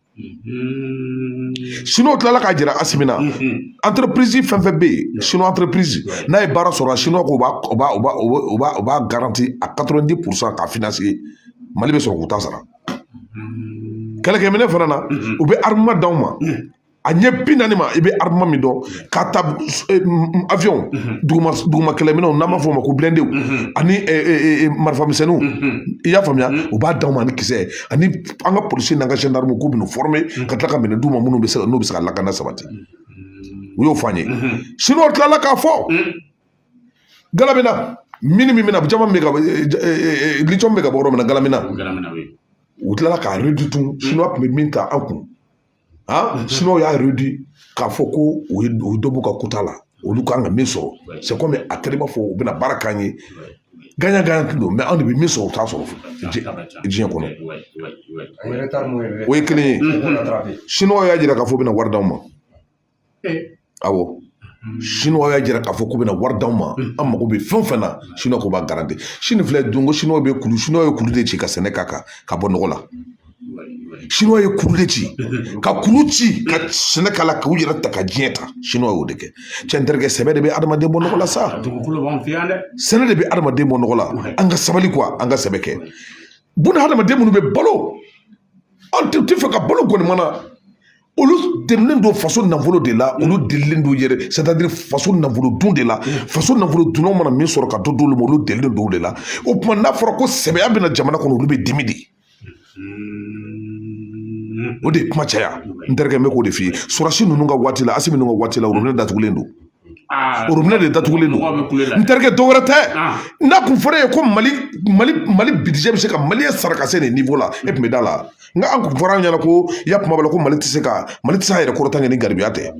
siniw tilala k'a jira asimi na anterepirizi fɛn fɛn bɛ yen sini anterepirizi n'a ye baara sɔrɔ siniwa k'u b'a u b'a garanti à quatre-vingt-dix pour cent k'a finanse mali bɛ sɔrɔ k'u ta sara kɛlɛkɛminɛn fana na u bɛ armement d'anw ma a ɲɛ bi naani ma i bɛ armement min dɔn k'a ta awiyɔnw duguma duguma kɛlɛminɛnw n'an b'a fɔ o ma ko bilɛndew ani marifamisɛnninw i y'a faamuya u b'a d'anw ma ni kisɛ ye ani an ka polisi n'an ka zandaramu k'u bɛna fɔrɔme ka tila ka minɛn d'u ma minnu bɛ se ka n'u bɛ se ka lakana sabati u y'o fɔ an ye siniwaw tilala k'a fɔ gulamina mini min bɛna jama min bɛ ka litiyɔmu bɛ ka bɔ yɔrɔ min na gulamina u tilala k'a réduit siniwa tun bɛ min ta an kun y'a réduit k'a fɔ ko u ye dɔ b'u ka kota la olu kan ka min sɔrɔ a kɛra i b'a fɔ u bɛna baara k'an ye gagnant gagnant de don mais anw de bɛ min sɔrɔ u t'a sɔrɔ diɲɛ kɔnɔ o ye kelen ye siniwa y'a jira k'a fɔ u bɛna wari d'anw ma sinuwa y'a jira k'a fɔ k'u bɛna wari d'anw ma an mago bɛ fɛn o fɛn na sini k'u b'a garanti sini filɛ don ko siniw bɛ kulu sini ye kulu de ci ka sɛnɛ ka kan ka bɔ nɔgɔ la siniw ye kulu de ci ka kulu ci ka sɛnɛ k'a la k'u yɛrɛ ta ka diɲɛ ta siniw y'o de kɛ cɛ n terikɛ sɛbɛ de bɛ adamaden bɔ nɔgɔ la sa sɛnɛ de bɛ adamaden bɔ nɔgɔ la an ka sabali kuwa an ka sɛbɛ kɛ buna hadamaden minnu bɛ balo an t'a fɛ ka balo kɔni mana olu delilen don faso nafolo de la olu delilen don yɛrɛ sɛtadiri faso nafolo dun de la faso nafolo dunnaw mana min sɔrɔ ka dɔ d'olu ma olu delilen don o de la o tuma n'a fɔra ko sɛbɛya bɛ na jamana kɔnɔ olu bɛ dimi de o de ye kuma caya n terikɛ n bɛ k'o de f'i ye sɔrɔdasi ninnu ka waati la asimi ninnu ka waati la orobinɛ datugulen don orobinɛ de datugulen don n terikɛ dɔ wɛrɛ tɛ n'a tun fɔra e ye ko mali mali mali bidijɛ bɛ se ka maliyɛn sara ka se nin nivo la e tun bɛ da a la nka a tun fɔra an ɲɛna ko i y'a kuma b'a la ko mali tɛ se ka mali tɛ se a yɛrɛ kɔrɔta kɛ ni garibuya tɛ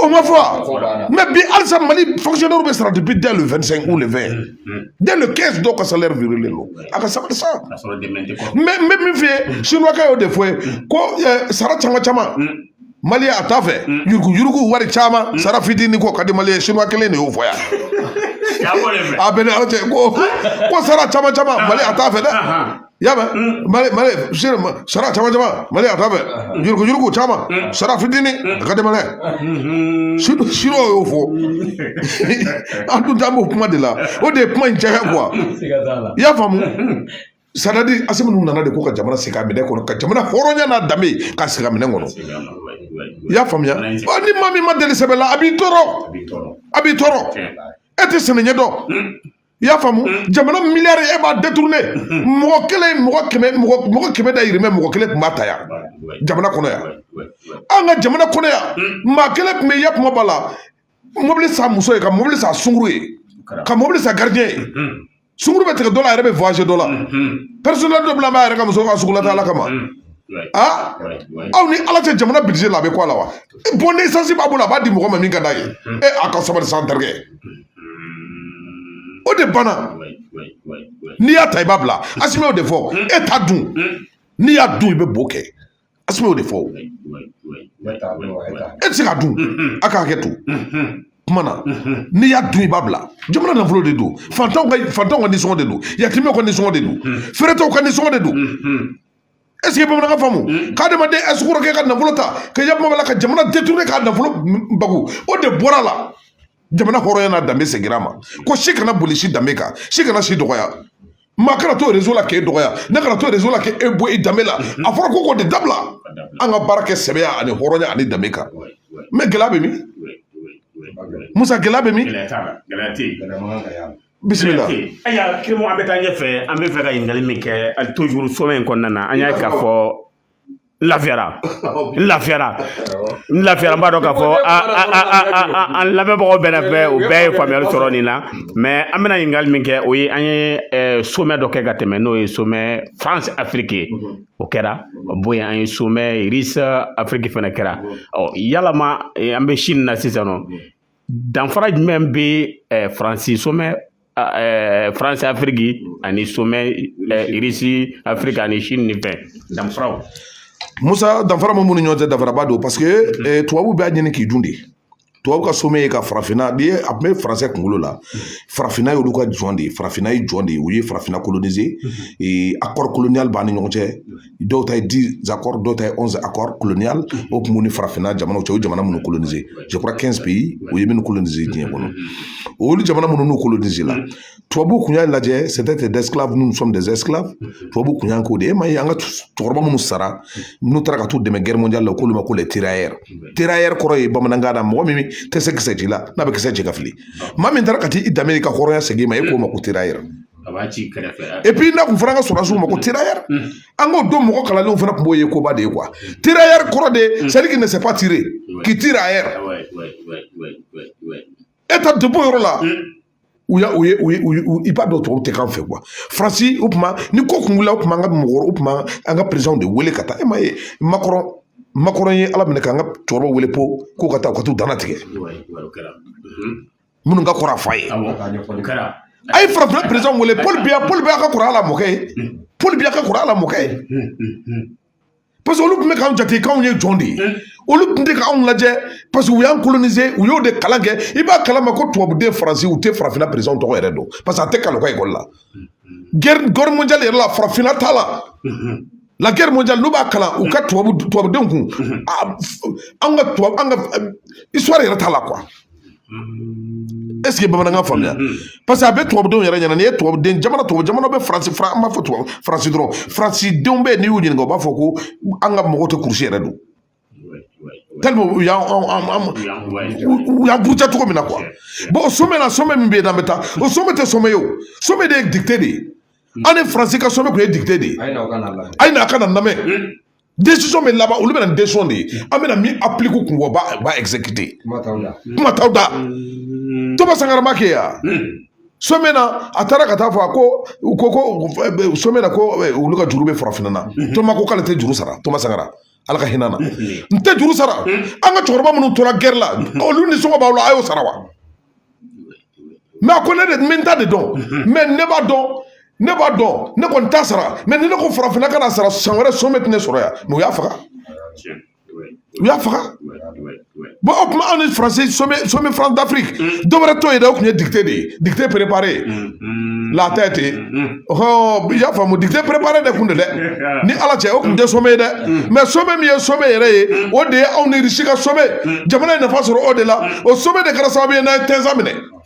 o ma fɔ mɛ bi halisa mali fɔnkisiyɔnɛriw bɛ sara depuis dès le vingt-cinq ou le vingt dès le quinze dɔw ka salɛri wirelen don a ka sabali sa mɛ n bɛ min f'i ye sinwakɛ y'o de fɔ ye ko sara caman caman maliyɛn a t'a fɛ mm. yuruguyurugu wari caman mm. sara fitinin k'o ka di mali ye sinuwa kelen de y'o fɔ yan a bɛ n ni ala cɛ ko ko sara caman caman maliyɛn a t'a fɛ dɛ i y'a mɛn mm. mali mali sara caman caman maliyɛn a t'a fɛ yuruguyurugu caman sara fitinin a ka di mali mm-hmm. ye sinuwa y'o fɔ an tun t'an b'o kuma de la o de ye kuma in caya kuwa i y'a faamu Sɛtadiri asimi ninnu nana de ko ka jamana segin a minɛ kɔnɔ ka jamana hɔrɔnya n'a danbe ka segin a minɛ kɔnɔ i y'a faamuya ni maa min ma deli sɛbɛ la a b'i tɔɔrɔ a b'i tɔɔrɔ e tɛ sɛnɛ ɲɛ dɔn i y'a faamu jamana miliyari i b'a detourne mɔgɔ kelen mɔgɔ kɛmɛ mɔgɔ kɛmɛ dahirimɛ mɔgɔ kelen tun b'a ta yan jamana kɔnɔ yan an ka jamana kɔnɔ yan maa kelen tun bɛ ya kuma b'a la Ka mobili san muso ye ka mobili san sungurun ye ka mobili san garidiyɛn ye sungurun bɛ tigɛ dɔ la a yɛrɛ bɛ voyage dɔ la pɛrɛsonɛli dɔ bilalen b'a yɛrɛ ka muso ka sugulataa ala kama aa aw ni ala cɛ jamana bidijɛ la a bɛ kɔ la wa bɔn desansi b'a bolo a b'a di mɔgɔ ma min ka d'a ye e a ka sabali sa n terikɛ o de banna n'i y'a ta i b'a bila asimi y'o de fɔ e ta dun n'i y'a dun i bɛ bo kɛ asimi y'o de fɔ e tɛ se k'a dun a ka hakɛ to kuma na n'i y'a dun i b'a bila jamana nafolo de don fantanw ka fantanw ka nisɔngɔ de don yatimɛw ka nisɔngɔ de don feeretɔw ka nisɔngɔ de don ɛseke bamanankan faamu k'adamaden ɛsikoroke ka nafolo ta ka y'a kuma b'a la ka jamana detourne k'a nafolo bago o de bɔra la jamana hɔrɔnya n'a danbe segira a ma ko si kana boli si danbe kan si kana si dɔgɔya maa kana to rezo la k'e dɔgɔya ne kana to rezo la k'e bɔ e danbe la a fɔra ko k'o de dabila an ka baara kɛ sɛbɛya ani hɔrɔnya ani danbe kan mɛ gɛlɛya bɛ min musa gɛlɛya bɛ min bisimila ayiwa kirimu an bɛ taa ɲɛfɛ an b'a fɛ ka ɲininkali min kɛ hali tojuru sɔmɛ in kɔnɔna na an y'a ye k'a fɔ n lafiyara n lafiyara n lafiyara n b'a dɔn k'a fɔ an lamɛnbagaw bɛɛ bɛɛ u bɛɛ ye faamuyali sɔrɔ nin na mɛ an bɛna ɲininkali min kɛ o ye an ye somɛ dɔ kɛ ka tɛmɛ n'o ye somɛ france afrique ye o kɛra bon an ye somɛ russie afrique fana kɛra ɔ yalama an bɛ chine na sisan nɔ danfara jumɛn bɛ eh, faransi somɛ eh, faransi afiriki ani somɛ eh, irisi afiriki ani sini ni fɛn danfaraw musa danfara min b'u ni ɲɔgɔn cɛ danfaraba don parce que tubabu b'a ɲini k'i dun de tubabu ka somɛ ye ka farafinna n'i ye a tun bɛ faransɛ kunkolo la farafinna y'olu ka jɔn de ye farafinna ye jɔn de ye u ye farafinna kolonize akɔri koloniyali b'an ni ɲɔgɔn cɛ dɔw ta ye dɔw ta ye o kun ni farafinna jamanaw cɛ o jamana minnu kolonize o ye minnu kolonize olu jamana minnu n'u kolonizela tubabuw kun y'a lajɛ tubabu kun y'an ko de e ma ye an ka cɛkɔrɔba minnu sara n'u taara ka t'u dɛmɛ guerre mondiale la k'olu ma ko kɔrɔ ye bamanankan na mɔgɔ min tɛ se kisɛ ci la n'a bɛ kisɛ ci ka fili maa min taara ka t'i danbe ka hɔrɔnya segin ma e k'o ma ko a b'a ci kɛrɛfɛ epi n'a kun fɔra ka sɔrɔdasiw ma ko terayɛri an k'o dɔn mɔgɔ kalanlenw fana tun b'o ye koba de ye kuwa terayɛri kɔrɔ de ye celui qui ne sait pas tirer qui tire ailleurs e ta depo yɔrɔ la u y'a u ye u ye u ye i b'a dɔn tɔw tɛ k'an fɛ kuwa faransi o tuma ni ko kun wulila o tuma an ka mɔgɔ o tuma an ka perezanw de wele ka taa e ma ye makɔrɔn makɔrɔn ye ala minɛ k'an ka cɛkɔrɔba wele pour k'u ka taa u ka t'u dana tigɛ minnu ka kɔrɔ a fa ye a ye farafinna perezan wele paul biya paul biya ka kɔrɔ a la mɔkɛ ye paul biya ka kɔrɔ a la mɔkɛ ye parce que olu tun bɛ k'an jate k'anw ye jɔn de ye olu tun tɛ k'anw lajɛ parce que u y'an kolonize u y'o de kalan kɛ i b'a kalama ko tubabuden faransi u tɛ farafinna perezan tɔgɔ yɛrɛ dɔn parce que a tɛ kalan u ka ekɔli la guerre mondiale yɛrɛ la farafinna t'a la la guerre mondiale n'u b'a kalan u ka tubabu tubabudenw kun an ka tubabu an ka histoire yɛrɛ t'a la quoi est ce que bamanankan faamuya parce que a bɛ tubabudenw yɛrɛ ɲɛna n'i ye tubabuden jamana tubabu jamana bɛ faransi fara an b'a fɔ tubabu faransi dɔrɔn faransidenw bɛ yen n'i y'u ɲininka u b'a fɔ ko an ka mɔgɔw tɛ kurusi yɛrɛ don tellement u y'an u y'an buruja cogo min na kuwa bɔn o somɛ la somɛ min bɛ yen n'an bɛ taa o somɛ tɛ somɛ ye o somɛ de ye dikite de ye an ni faransi ka somɛ tun ye dikite de ye a ye na a ka na lamɛn desisɔn bɛ laban olu bɛ na desisɔn de ye an bɛna min apilike kun bɔ ba ba ɛgizekite kuma t'aw da tɔma sangara m'a kɛ yan somɛ na a taara ka taa fɔ a ko u ko ko somɛ na ko olu ka juru bɛ farafinna na tɔma ko k'ale tɛ juru sara tɔma sangara ala ka hinɛ a na n tɛ juru sara an ka cɛkɔrɔba minnu tora gɛrɛ la olu nisɔngɔ b'aw la a y'o sara wa mɛ a ko ne de min ta de dɔn mɛ ne b'a dɔn ne b'a dɔn ne kɔni t'a sara mɛ ni ne ko farafinna kana sara san wɛrɛ somɛ tɛ ne sɔrɔ yan mɛ u y'a faga u y'a faga bɔn o kuma anw ni faransi somɛ faransi dafiriki dɔ wɛrɛ t'o ye dɛ o tun ye dikite de ye dikite perepare laata ye ten hɔn i y'a faamu dikite perepare de kun don dɛ ni ala cɛ o tun tɛ somɛ ye dɛ mɛ somɛ min ye somɛ yɛrɛ ye o de ye anw ni irisi ka somɛ jamana ye nafa sɔrɔ o de la o somɛ de kɛra sababu ye n'an ye tinzawatɛn minɛ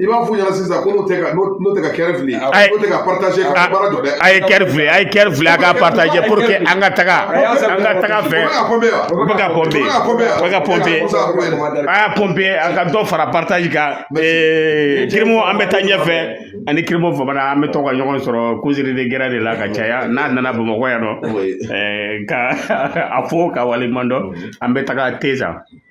i b'a f'u ɲɛna sisan ko n'o tɛ ka n'o tɛ ka cœur fili n'o tɛ ka partage ka baara jɔ dɛ a ye cœur fili a ye cœur fili a ka partage pour que an ka taga an ka taga fɛ u bɛ ka pɔnpe u bɛ ka pɔnpe a y'a pɔnpe a ka dɔ fara partage kan kirimu an bɛ taa ɲɛfɛ an ni kirimu fofana an bɛ to ka ɲɔgɔn sɔrɔ koziri de gɛrɛn de la ka caya n'a nana bamakɔ yan nɔ ka a fo k'a waleɲuman dɔn an bɛ taga ten sa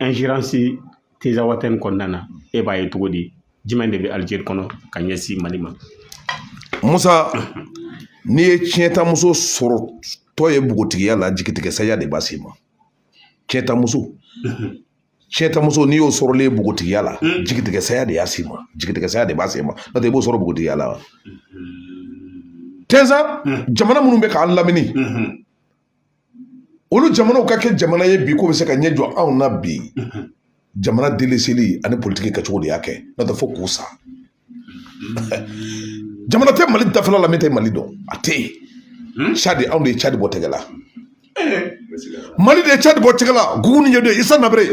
ɛnzeransi tinzawatɛn in kɔnɔna na e b'a ye cogo di jumɛn de bɛ alizeri kɔnɔ ka ɲɛsin mali ma musa n'i ye tiɲɛtamuso sɔrɔtɔ ye npogotigiya la jigitigɛ saya de b'a se ma tiɲɛtamuso cɛtamuso n'i y'o sɔrɔlen ye npogotigiya la hmm. jigitigɛ saya de y'a s'i ma jigitigɛ saya de b'a se ma n'o tɛ i b'o sɔrɔ npogotigiya la wa hmm. ten sa hmm. jamana minnu bɛ k'an lamini olu jamanaw ka kɛ jamana ye bi k'u bɛ se ka ɲɛ jɔ anw na bi jamana deliseli ani politiki kɛcogo de y'a kɛ n'o tɛ fo k'u sa jamana tɛ mali dafɛla la min tɛ mali dɔn a tɛ yen hmm? cadi anw de ye cadi bɔ tɛgɛ la eh. mali de ye cadi bɔ tɛgɛ la gukuni wɛdɛyi isɛni abere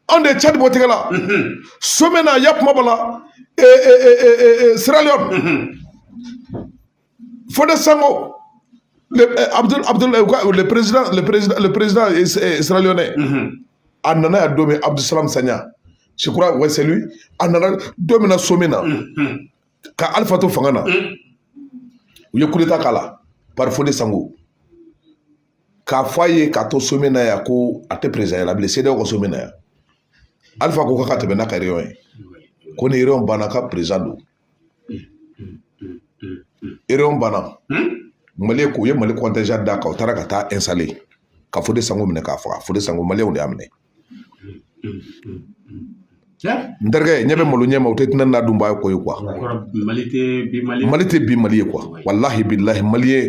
anw de ye cadi bɔ tɛgɛ la mhm. somɛ na yan kuma bɔ la eh, eh, siraliyɔn Foday Sankoh, le, euh, Abdul, Abdul, euh, le président, le président, le président Sierra Leone, mm -hmm. a nana yan don min Abdul Salam Sanya. Je crois, ouais, c'est lui. A nana don min na sommet na. Mm -hmm. Ka Alpha to fanga na. Mm -hmm. U ye coup d'état k'a la par Foday Sankoh. K'a fɔ a ye k'a to sommet na yan ko a tɛ présidentya la bilen CEDEAO ka sommet na yan. Alpha ko k'a ka tɛmɛ n'a ka réunion ye. Ko ni réunion banna k'a président don. ereyɔn banna mali ko u ye mali contingent d'a kan u taara ka taa ɛnsale ka fode sanko minɛ k'a faga fode sanko maliyɛnw de y'a minɛ n terikɛ ɲɛ bɛ malo ɲɛ ma o tɛ tinɛnin na dunbaa ye ko ye kuwa mali tɛ bi mali ye kuwa walahi bilahi maliyɛn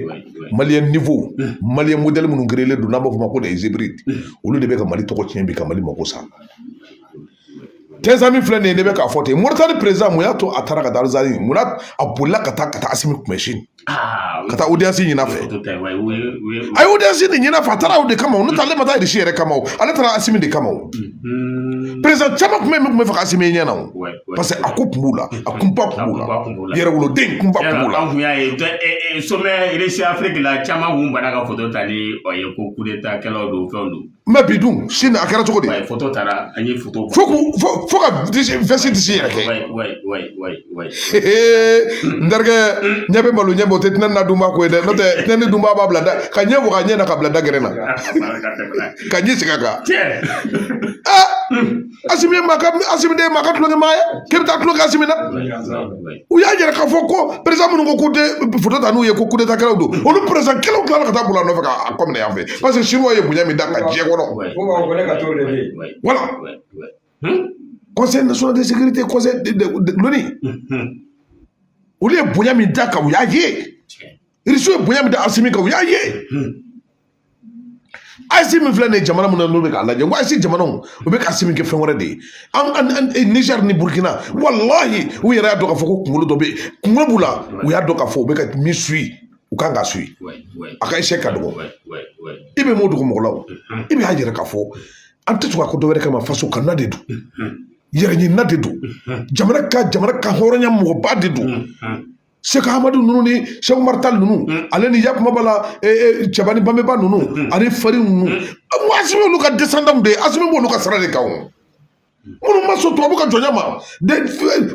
maliyɛn nouveau maliyɛn modɛli minnu gerelen don n'an b'a fɔ o ma ko les hybrides olu de bɛ ka mali tɔgɔ tiɲɛ bi ka mali mako sa tɛnsan min filɛ nin ye ne bɛ k'a fɔ ten moritani perezidan mun y'a to a taara ka taa alizeri mun na a bolila ka taa ka taa asimi kunbɛn sini ka taa odiyansi ɲin'a fɛ a ye odiyansi de ɲin'a fɛ a taara o de kama o n'o tɛ ale ma taa irisi yɛrɛ kama o ale taara asimi de kama o perezidan caman kun bɛ yen min kun b'a fɛ ka asimi ɲɛ na o parce que a ko kun b'u la a kunpa kun b'u la yɛrɛwoloden kunpa kun b'u la an kun y'a ye somɛ irisi afiriki la caman kun banna ka foto ta ni o ye ko kudeta kɛlaw don fɛnw don mɛ bi dun sini a kɛra cogo di fo ka fo ka visite yɛrɛ kɛ n terikɛ ɲɛ bɛ malo ɲɛ ma o tɛ tinɛnin na dunba ko ye dɛ n'o tɛ tinɛnin dunba b'a bila da k'a ɲɛ waga ɲɛ na k'a bila da gɛrɛ na ka ji sigi a kan asimi ma ka asimi tɛ maa ka tulonkɛ maa ye k'e bɛ taa tulonkɛ asimi na u y'a jira k'a fɔ ko perezidan minnu ko k'u tɛ foto ta n'u ye ko kudetakɛlaw don olu perezidan kɛlaw tilala ka taa bila a nɔfɛ k'a kɔ minɛ yan fɛ parce que sinuwaw ye bonya min d'a kan diɲɛ kɔnɔ wala conseil national de sécurité conseil de l'ONU olu ye bonya min d'a kan u y'a ye irisiw ye bonya min da asimi kan u y'a ye AES min filɛ nin ye jamana mun na n'o bɛ k'a lajɛ ko AES jamanaw u bɛ k'asimi kɛ fɛn wɛrɛ de ye an an nizɛri ni burukina walahi u yɛrɛ y'a dɔn k'a fɔ ko kunkolo dɔ bɛ yen kunkolo b'u la u y'a dɔn k'a fɔ u bɛ ka min suivi u kan k'a suivi a ka échec ka dɔgɔ i bɛ m'o dugu mɔgɔ la o i bɛ y'a jira k'a fɔ an tɛ to ka ko dɔ wɛrɛ kama faso kama de don yɛrɛ ɲinina de don jamana ka jamana ka hɔrɔnya mɔgɔba de don seku amadu ninnu ni sɛku umaru tali ninnu mm. ale ni yakumaba la e, e, cɛba ni babɛnba ninnu mm. ani firun ninnu mm. asimi olu ka descendant de ye asimi b'olu ka sira de kan o minnu ma sɔn tubabu ka jɔnya ma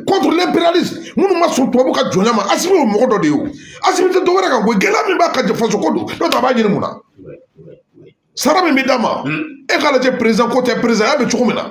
contre l'impérialisme minnu ma sɔn tubabu ka jɔnya ma asimi o mɔgɔ dɔ de ye o asimi tɛ dɔwɛrɛ kan koyi gɛlɛya min b'a kan faso ko don n'o tɛ a b'a ɲini mun na sara min bɛ d'a ma e k'a lajɛ président ko tɛ président ya bɛ cogo min na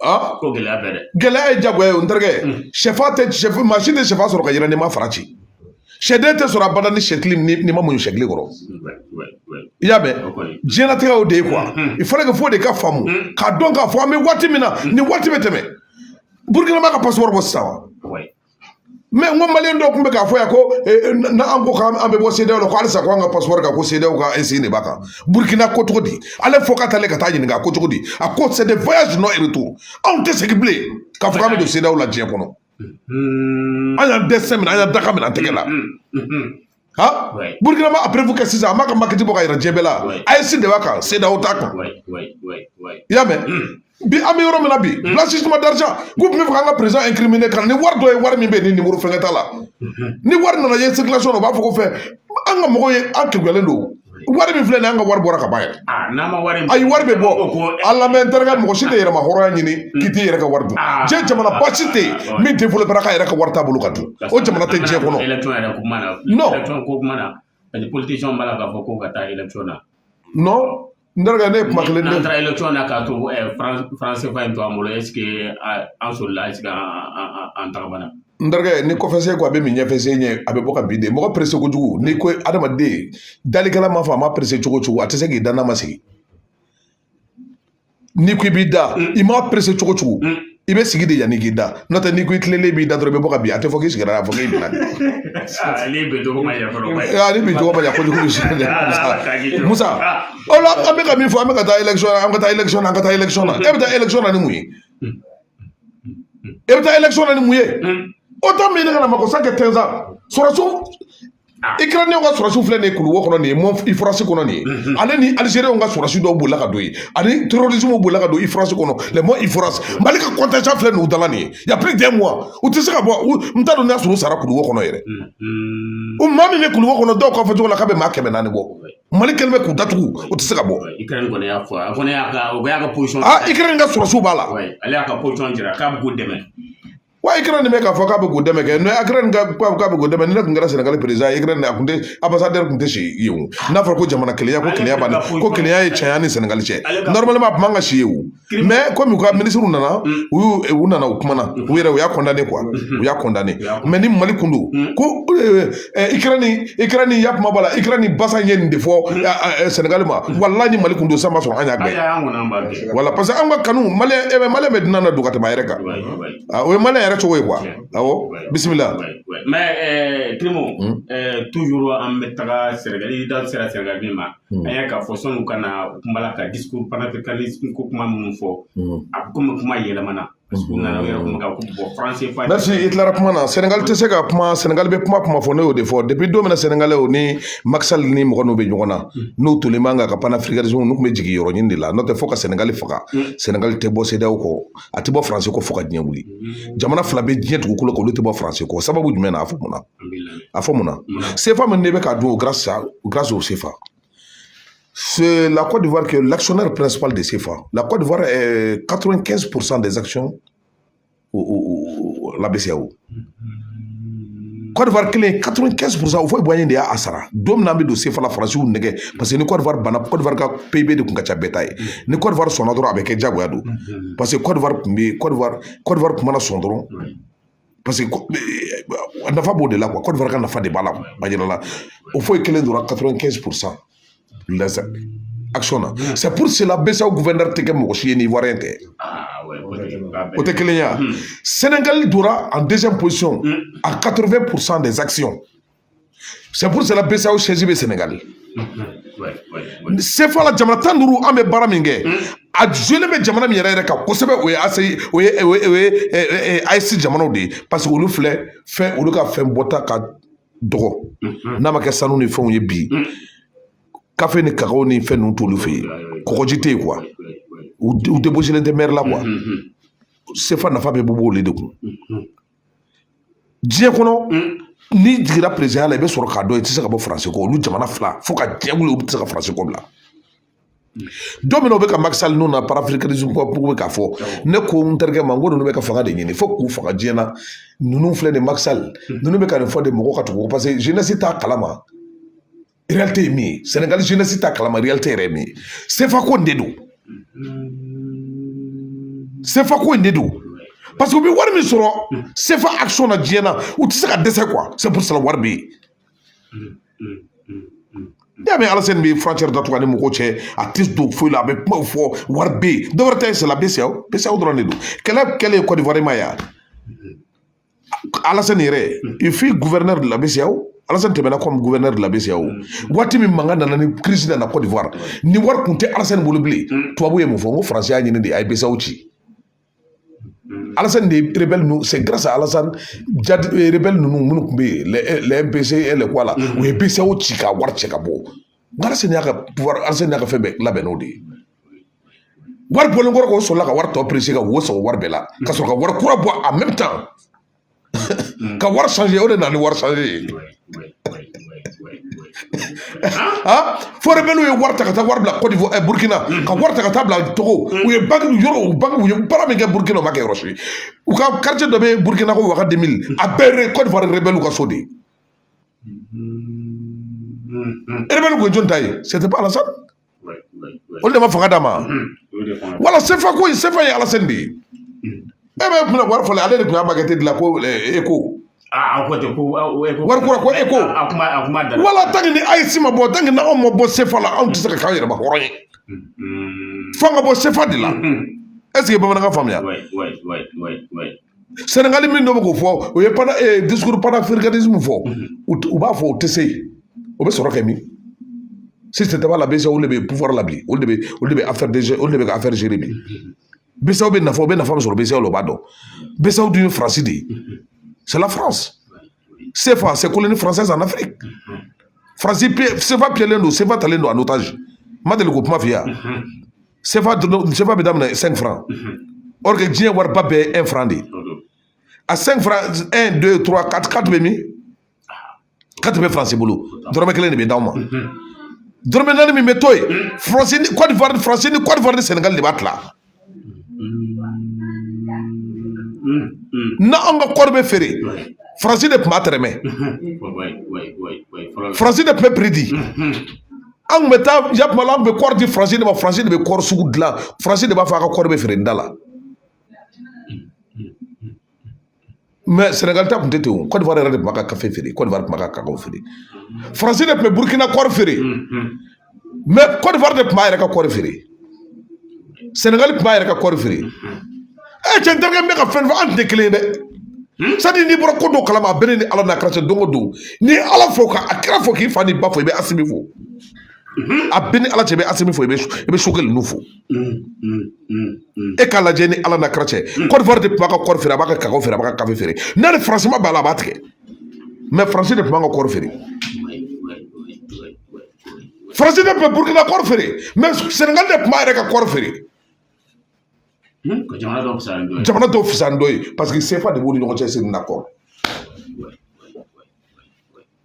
ko gɛlɛya bɛ dɛ gɛlɛya ye jagoya ye o tɛ sɛfan tɛ sɛfu maa si tɛ sɛfan sɔrɔ ka yɛlɛ n'i ma farati sɛden tɛ sɔrɔ abada ni sɛkili n'i ma muɲu sɛkili kɔrɔ i y'a mɛn diɲɛlatigɛ o de ye kuwa i fana ka fɔ de k'a faamu k'a dɔn k'a fɔ an bɛ waati min na ni waati bɛ tɛmɛ burukina m'a ka pasipɔri bɔ sisan wa mɛ n ko maliyɛn dɔw tun bɛ k'a fɔ yan ko n'an ko k'an bɛ bɔ sedeyaw la ko halisa ko an ka passeport kan ko sedeyaw ka insigne de b'a kan burukina ko cogo di ale fɔ ka taalen ka taa ɲininka ko cogo di a ko c'est des voyages de non retour anw tɛ segin bilen k'a fɔ k'an bɛ don sedeyaw la diɲɛ kɔnɔ an y'an destin minɛ an y'an dakan minɛ an tɛgɛ la ha burkina m'a preuve kɛ sisan a m'a ka maquette bɔ ka yira diɲɛ bɛɛ la AES de b'a kan sedeyaw t'a kan i y'a mɛn bi an bɛ yɔrɔ min na bi blanchissement d'argent k'u tun bɛ fɛ k'an ka président incriminer ka na ni wari dɔ ye wari min bɛ yen ni nimoro fɛnkɛ t'a la ni wari nana ye circulation na u b'a fɔ ko fɛn an ka mɔgɔw ye an kekuyalen don wari min filɛ nin ye an ka wari bɔra ka ban yɛrɛ ayi wari bɛ bɔ ala mɛ n terikɛ mɔgɔ si tɛ yɛrɛmahɔrɔnya ɲini k'i t'i yɛrɛ ka wari dun diɲɛ jamanaba si tɛ yen min développéra k'a yɛrɛ ka wari t'a bolo ka dun o jamana tɛ diɲɛ kɔnɔ nɔn n dɔgɔkɛ ne ye kuma kelen n'an taara election na k'a to faran sefa in to an bolo ɛsike an solila ɛsike an tagamana n terikɛ ni kɔfɛsen ko a bɛ min ɲɛfɛsen ɲɛ a bɛ bɔ ka bin de mɔgɔ perese kojugu n'i ko adamaden dalikɛla ma fɔ a ma perese cogo cogo a tɛ se k'i da n'a ma sigi n'i ko i b'i da i m'a perese cogo cogo i bɛ sigi de yanni k'i da n'o tɛ n'i ko i tilelen b'i da dɔrɔn i bɛ bɔ ka bin a tɛ fɔ k'i sigira a bɛ fɔ k'i binna ale bi dɔgɔ ma yafa ale bi dɔgɔ ma yafa kojugu musa o la an bɛ ka min fɔ an bɛ ka taa election na an ka taa election na an ka taa election na e bɛ taa election na ni mun ye e bɛ taa election na ni mun ye OTAN min ye ne ka na mako sa kɛ tɛnza sɔrɔsiw ikraniyɛnw ka sɔrɔsiw filɛ nin ye kuluwo kɔnɔ nin ye mɔn ifrasi kɔnɔ nin ye ale ni alizeriyɛnw ka sɔrɔsi dɔw bolila ka don yen ani terrorisme bolila ka don ifrasi kɔnɔ le mɔn ifrasi mali ka contingent filɛ nin u da la nin ye ya plus d'un mois u tɛ se ka bɔ n t'a dɔn n'a sɔrɔ u sara kuluwo kɔnɔ yɛrɛ o maa min bɛ kuluwo kɔnɔ dɔw ka fɔcogo la k'a bɛ maa kɛmɛ naani bɔ mali kɛlen bɛ k'u datugu u tɛ se ka bɔ ikrɛni kɔni y'a fɔ a kɔni y'a ka o y'a ka position aa ikrɛni ka sɔrɔsiw b'a la ale y'a ka position jira k'a bɛ k'u dɛmɛ wa ikrɛni bɛ k'a fɔ k'a bɛ k'u dɛmɛ kɛ ne ikrɛni ko k'a bɛ k'u dɛmɛ ni ne tun kɛra sɛnɛgali perezidan ye ikrɛni a kun tɛ ambassadeur kun tɛ si yen o n'a fɔra ko jamana kelen ko kelenya b'a la ko kelenya y'an cɛ an ni sɛnɛgali cɛ normalement a kun man ka si yen o mɛ kɔmi u ka minisiriw nana u y'u u nana u kumana u yɛrɛ u y'a kɔndane kuwa u y'a kɔndane mɛ ni mali kun don ko ikrɛni ikrɛni ya kuma b'a la ikrɛni ambassade ye nin de fɔ sɛnɛgali ma wala ni mali kun don san ma sɔrɔ an y'a bɛɛ wala parce que an ka kanu mali mali bɛ dunan ladon ka tɛmɛ a yɛrɛ kan o ye mali yɛrɛ cogo ye kuwa awɔ bisimila mɛ timo tuzuru an bɛ taga sɛnɛgali da sera sɛnɛgali ma Mm. An y'a k'a fɔ sanni u ka na u kuma la ka discours panafricanisme ko kuma minnu fɔ mm. a bɛ komi kuma yɛlɛmana parce que u nana u yɛrɛ kuma kan ko bɔn franc CFA. merci i tilara kuma na Senegal tɛ se ka kuma Senegal bɛ kuma kuma fɔ ne y'o de fɔ depuis don min na Senegalais o ni Macky Sall ni mɔgɔ ninnu bɛ ɲɔgɔn na mm. n'u tolen b'an kan ka panafricanisme ninnu tun bɛ jigin yɔrɔ ɲini de la n'o tɛ fo ka Senegal faga Senegal tɛ bɔ CEDEAO kɔ a tɛ bɔ France kɔ fo ka diɲɛ wuli jamana fila bɛ diɲɛ dugukolo kan olu tɛ bɔ France kɔ sababu jumɛn na a fɔ mun na. a fɔ mun na sefa min ne bɛ ka dun grâce au sefa C'est la Côte d'Ivoire qui est l'actionnaire principal de CFA. La Côte d'Ivoire est 95% des actions au, au, au, la BCEAO. Côte d'Ivoire kelen 95% Houphouët-Boigny de y'a sara don min na an bɛ don sefa la faransiw nɛgɛ parce que ni Côte d'Ivoire banna Côte d'Ivoire ka PIB de tun ka ca bɛɛ ta ye ni Côte d'Ivoire sɔnna dɔrɔn a bɛ kɛ diyagoya don parce que Côte d'Ivoire tun bɛ Côte d'Ivoire Côte d'Ivoire tun mana sɔn dɔrɔn paseke a nafa b'o de la kuwa Côte d'Ivoire ka nafa de b'a la a jɛya la Houphouët kelen donna 95% action na c'est pour cela BCEAO gouverneur tɛ kɛ mɔgɔ si ye n'ivoirien tɛ o tɛ kelen ye Sénégal donna en deuxième position à 8% des actions c'est pour cela BCEAO siège bɛ Sénégal sefa la jamana tan duuru an bɛ baara min kɛ a joli bɛ jamana min yɛrɛ yɛrɛ kan kosɛbɛ o ye ase o ye o ye o ye AES jamanaw de ye parce que olu filɛ fɛn olu ka fɛn bɔta ka dɔgɔ n'a ma kɛ sanu ni fɛnw ye bi kafe ni kakaw ni fɛn ninnu t'olu fɛ yen kɔgɔji tɛ yen kuwa u débouchélen tɛ mer la kuwa sefa nafa bɛ bɔ olu de kun diɲɛ kɔnɔ n'i jiginra perezan la i bɛ sɔrɔ k'a dɔn i tɛ se ka bɔ faransi kɔ olu jamana fila fo ka diɲɛ wuli u tɛ se ka faransi kɔ bila don min na u bɛ ka makisali ninnu ka panafricanisme ko bɛ k'a fɔ ne ko n terikɛ ma n ko ninnu bɛ ka fanga de ɲini fo k'u faga diɲɛ na ninnu filɛ nin makisali ninnu bɛ ka nin fɔ de mɔgɔ ka tugu paseke zenɛsi t'a kalama ye min ye sɛnɛgali zenɛsi t'a kalama réalité ye min ye sefako in de don sefako in de don paseke u bɛ wari min sɔrɔ sefa akisɔn na diɲɛ na u tɛ se ka dɛsɛ kuwa c'est pour cela wari bɛ yen n'i y'a mɛn alasani bɛ frontière datugu a ni mɔgɔw cɛ a tɛ don foyi la a bɛ kumaw fɔ wari bɛ yen dɔwɛrɛ tɛ yen c'est la BCEAO BCEAO dɔrɔn de don kɛlɛ kɛlen kɔdiwari i m'a ye alasani yɛrɛ il fut gouverneur de la BCEAO alasani tɛmɛna comme gouverneur de la BCEAO waati min mankan nana ni kirisi nana cote d'ivoire ni wari kun tɛ alasani bolo bilen tubabu ye mun fɔ n ko faransi y'a ɲini de a ye BCEAO ci alasani de ye rebɛli ninnu c'est grâce à alasani jadi rebɛli ninnu minnu tun bɛ yen les MPCI et les quoi la u ye BCEAO ci ka wari cɛ ka bɔ wari sen y'a ka wari an sen n'a ka fɛn bɛɛ labɛn n'o de ye wari bɔlen kɔrɔ k'o sɔrɔla ka wari tɔ perese ka wo sɔrɔ wari bɛɛ la ka sɔrɔ ka wari kura bɔ en même temps ka wari sanze o de nana ni wari sanze ye fɔ rebɛliw ye wari ta ka taa wari bila kɔdiwari ɛ burukina ka wari ta ka taa bila togo u ye banki yɔrɔ u banki u ye baara min kɛ burukina u m'a kɛ yɔrɔ si u ka kartiye dɔ bɛ burukina ko waga demili a bɛɛ kɔdiwari rebɛliw ka so de ye ɛ rebɛli kun jɔn ta ye c'était pas alasani olu de ma fanga d'a ma wala sefa ko sefa ye alasani de ye e bɛ kun wari fɔlɔ ale de tun y'a makɛti dilan ko eko wari kura ko eko wala tanki ni AES ma bɔ tanki n'anw ma bɔ sefa la anw tɛ se ka k'an yɛrɛma hɔrɔn ye fo an ka bɔ sefa de la ɛseke bamanankan faamuya sɛnɛgali min dɔ bɛ k'o fɔ o ye pana eh, discours panafricanisme fɔ mhm. u b'a fɔ o tɛ se yen o bɛ sɔrɔ kɛ min système la pase olu de bɛ pouvoir la bi olu de bɛ olu de bɛ affaire de olu de bɛ ka affaire gérer bi mhm. pase u bɛ nafa u bɛ nafa min sɔrɔ BCEAO la u b'a dɔn BCEAO dun ye faransi de ye mhm. c'est la france CFA c'est colonie française en Afrique faransi CFA piyɛlen don CFA talen don en otage n ma deli k'o kuma f'i ye wa sefa dun sefa bɛ daminɛ cinq francs or que diɲɛ wariba bɛɛ ye un franc de ye a cinq francs un deux trois quatre quatre bɛ min quatre bɛ faransi bolo dɔrɔmɛ kelen de bɛ d'aw ma dɔrɔmɛ naani min bɛ to yen faransi ni kɔdiwari faransi ni kɔdiwari ni sɛnɛgali de b'a tila na anw ka kɔɔri bɛ feere faransi de tun b'a tɛrɛmɛ faransi de tun bɛ prix di an kun bɛ taa yatuma la an kun bɛ kɔɔri di faransi de ma faransi de bɛ kɔɔri sugu dilan faransi de b'a fɔ an ka kɔɔri bɛ feere nin da la mɛ sɛnɛgali ta kun tɛ ten o kɔdiwari yɛrɛ de tun b'a ka kafe feere kɔdiwari tun b'a ka kakaw feere faransi de tun bɛ burukina kɔɔri feere mɛ kɔdiwari de tun b'a yɛrɛ ka kɔɔri feere sɛnɛgali tun b'a yɛrɛ ka kɔɔri feere ɛ cɛ n teri n bɛ ka fɛn fɔ an tɛ kelen ye dɛ hmm? satadiri n'i bɔra ko dɔw kalama a bɛ ne ni ala n'a kɛra don o don n'i ye ala fo ka kira fo k'i fa n'i ba fo i bɛ asimi fo hmm? a bɛ ni ala cɛ i bɛ asimi fo i bɛ i bɛ sogɛli ninnu fo hmm, e k'a lajɛ ni ala n'a kɛra cɛ kɔdiwari de tun b'a ka kɔɔri feere a b'a ka kakaw feere a b'a ka kafe feere n'a ni faransi ma bɛn a la a b'a tigɛ mɛ faransi de tun b'an ka kɔɔri feere faransi de bɛ burukina kɔɔri feere mɛ sɛnɛgali de tun b'a yɛrɛ ka kɔɔri feere jamana dɔ ka fisa ni dɔ ye jamana dɔ ka fisa ni dɔ ye paseke sefa de b'u ni ɲɔgɔn cɛ c'est un accord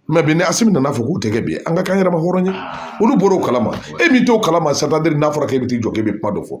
mɛ bi ni asimi nana fɔ k'o tigɛ bi an ka k'an yɛrɛma hɔrɔn ye olu bɔra o kalama e min t'o kalama satadiri n'a fɔra k'e bɛ t'i jɔ k'e bɛ kuma dɔ fɔ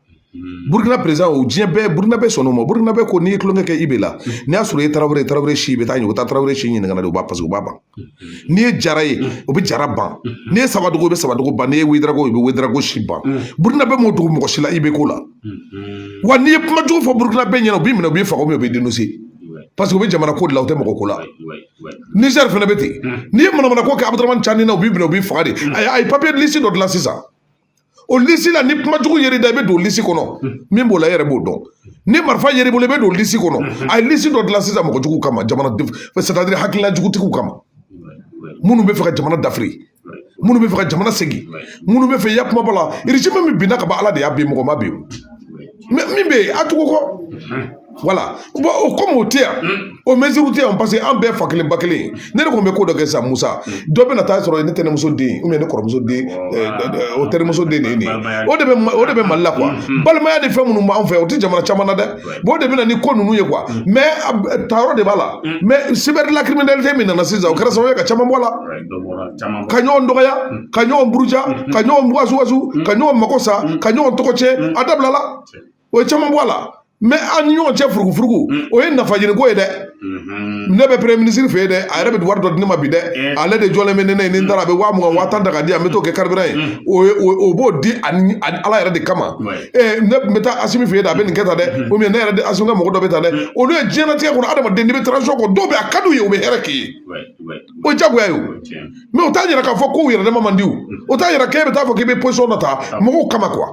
burukina perez o diɲɛ bɛɛ burukina bɛ sɔn o ma burukina bɛ ko n'i ye tulonkɛ kɛ i bɛ la n'i y'a sɔrɔ e taara e taara si bɛ taa ɲɛ u bɛ taa tarawele si ɲininka de u b'a paseke u b'a ban n'i ye jara ye o bɛ jara ban n'i ye sawadogo u bɛ sawadogo ban n'i ye wedarawogo u bɛ wedarawogo si ban burukina bɛ m'o dugu mɔgɔ si la i bɛ ko la wa n'i ye kuma jugu fɔ burukina bɛɛ ɲɛna u b'i minɛ u b'i faga u bɛ denmuso paseke u bɛ jamana ko la u tɛ mɔgɔ ko la nizɛri fana bɛ ten n'i ye manamana ko kɛ abuduramani cani na u b'i minɛ u b'i faga de a ye papiye lisi dɔ dilan sisan o lisi la ni kuma jugu yera i da i bɛ don lisi kɔnɔ min b'o la e yɛrɛ b'o dɔn ni marifa yera i bolo i bɛ don lisi kɔnɔ a ye lisi dɔ dilan sisan mɔgɔ jugu kama jamana sɛtadiri hakilina jugutigiw kama minnu bɛ fɛ ka jamana dafiri minnu bɛ fɛ ka jamana segin minnu bɛ fɛ ya kuma b'a la rezimu min binna ka ban ala de y'a bin mɔgɔ m'a bin min bɛ yen a tugu kɔ wala o komi o tɛ yan o meziriw tɛ yan paseke an bɛɛ fa kelen ba kelen ne de kun bɛ ko dɔ kɛ sa musa dɔ bɛna taa sɔrɔ ne tɛnɛmuso den ne kɔrɔmuso den o tɛnɛmuso den de ye nin ye o de bɛ o de bɛ mali la balimaya de fɛn minnu b'an fɛ o tɛ jamana caman na dɛ o de bɛ na ni ko ninnu ye kuwa mɛ tayɔrɔ de b'a la mɛ sibɛri lakiriminalite min nana sisan o kɛra sababu ye ka caman bɔ a la ka ɲɔgɔn dɔgɔya ka ɲɔgɔn buruja ka ɲɔgɔn wasuwasu ka ɲɔgɔn mago sa ka ɲɔgɔn tɔgɔ cɛn a dabilala o ye caman bɔ a la mɛ an ni ɲɔgɔn cɛ furugufurugu mm. o ye nafa ɲini ko ye dɛ mm-hmm. ne bɛ peremiye minisiri fɛ yen dɛ a yɛrɛ bɛ wari dɔ di ne ma bi dɛ eh. ale de jɔlen bɛ ne ne ni n taara a bɛ waa mugan waa tan ta k'a di a bɛ t'o kɛ karibiran ye mm. o b'o di ani ala yɛrɛ de kama eh, ne bɛ taa asimi fɛ yen dɛ a bɛ nin kɛ tan dɛ mm-hmm. o ne yɛrɛ de asimi ka mɔgɔ dɔ bɛ tan dɛ mm. olu ye diɲɛlatigɛ kɔnɔ adamaden n'i bɛ taranzisɔn kɔ dɔw bɛ a ka d'u ye u bɛ hɛrɛ k'i ye o ye jagoya ye o mɛ o t'a yira k'a fɔ k'u yɛrɛdama man di o o t'a yira k'e bɛ taa fɔ k'i bɛ pozisɔn dɔ ta mɔgɔw kama kuwa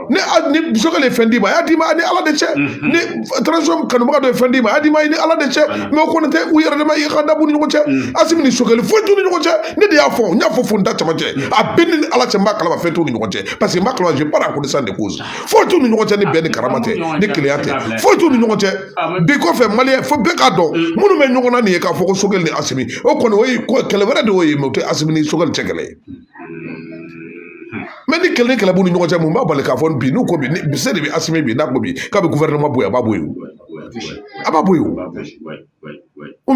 ne ni musokɛ ye fɛn d'i ma a y'a d'i ma a ni ala de cɛ ni taranzisɔn kanubaga dɔ ye fɛn d'i ma a y'a d'i ma i ni ala de cɛ mɛ o kɔni tɛ u yɛrɛdama i ka dabu ni ɲɔgɔn cɛ asimi ni sogɛli foyi t'u ni ɲɔgɔn cɛ ne de y'a fɔ n y'a fɔ fo n da caman cɛ a bɛɛ ni ala cɛ n b'a kalama fɛn t'u ni ɲɔgɔn cɛ parce que n b'a kalama je parle à connaissance de cause foyi t'u ni ɲɔgɔn cɛ ni bɛn ni karama tɛ ni kelenya tɛ foyi t'u ni ɲɔgɔn cɛ bi kɔfɛ maliyɛn fo bɛɛ k'a dɔn minnu bɛ ɲɔgɔn na nin ye k'a fɔ ko sogɛli ni asimi o kɔni o ye ko kɛlɛ wɛrɛ de y'o ye mɛ o tɛ asimi ni sogɛli cɛ kɛlɛ ye mɛ ni kɛlɛ ni kɛlɛ b'u ni ɲɔgɔn cɛ mun b'a bali k'a fɔ bi n'u ko bi se de bɛ asimi bi n'a ko bi k'a bɛ gufɛrɛnaman bɔ yen a b'a bɔ yen a b'a bɔ yen o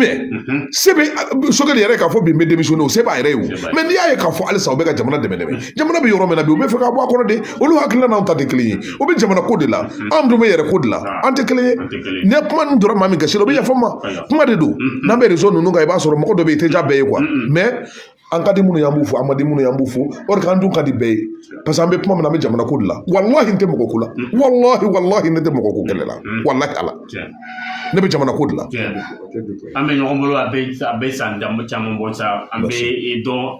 se bɛ sogɛli yɛrɛ k'a fɔ bi n bɛ demisiyɔne o se b'a yɛrɛ ye o mɛ n'i y'a ye k'a fɔ halisa u bɛ ka jamana dɛmɛ dɛmɛ jamana bɛ yɔrɔ min na bi u bɛ fɛ k'a bɔ a kɔnɔ de olu hakilina n'anw ta tɛ kelen ye o bɛ jamana ko de la anw dun bɛ yɛrɛ ko de la an tɛ kelen ye ni kuma ninnu donna maa min gasi la o bɛ yafa n ma kuma de don n'an bɛ rezo ninnu kan i b'a sɔrɔ mɔgɔ dɔ bɛ yen i tɛ diya bɛɛ ye mɛ an ka di minnu y'an b'u fo an ma di minnu y'an b'u fo o de k'an dun ka di bɛɛ ye parce que an bɛ kuma min na an bɛ jamana ko de la walahi n tɛ mɔgɔ ko la walahi walahi ne tɛ mɔgɔ ko kɛlɛ la walahi ala ne bɛ jamana ko de la an bɛ ɲɔgɔn bolo a bɛ san caman bɔ sa an bɛ dɔn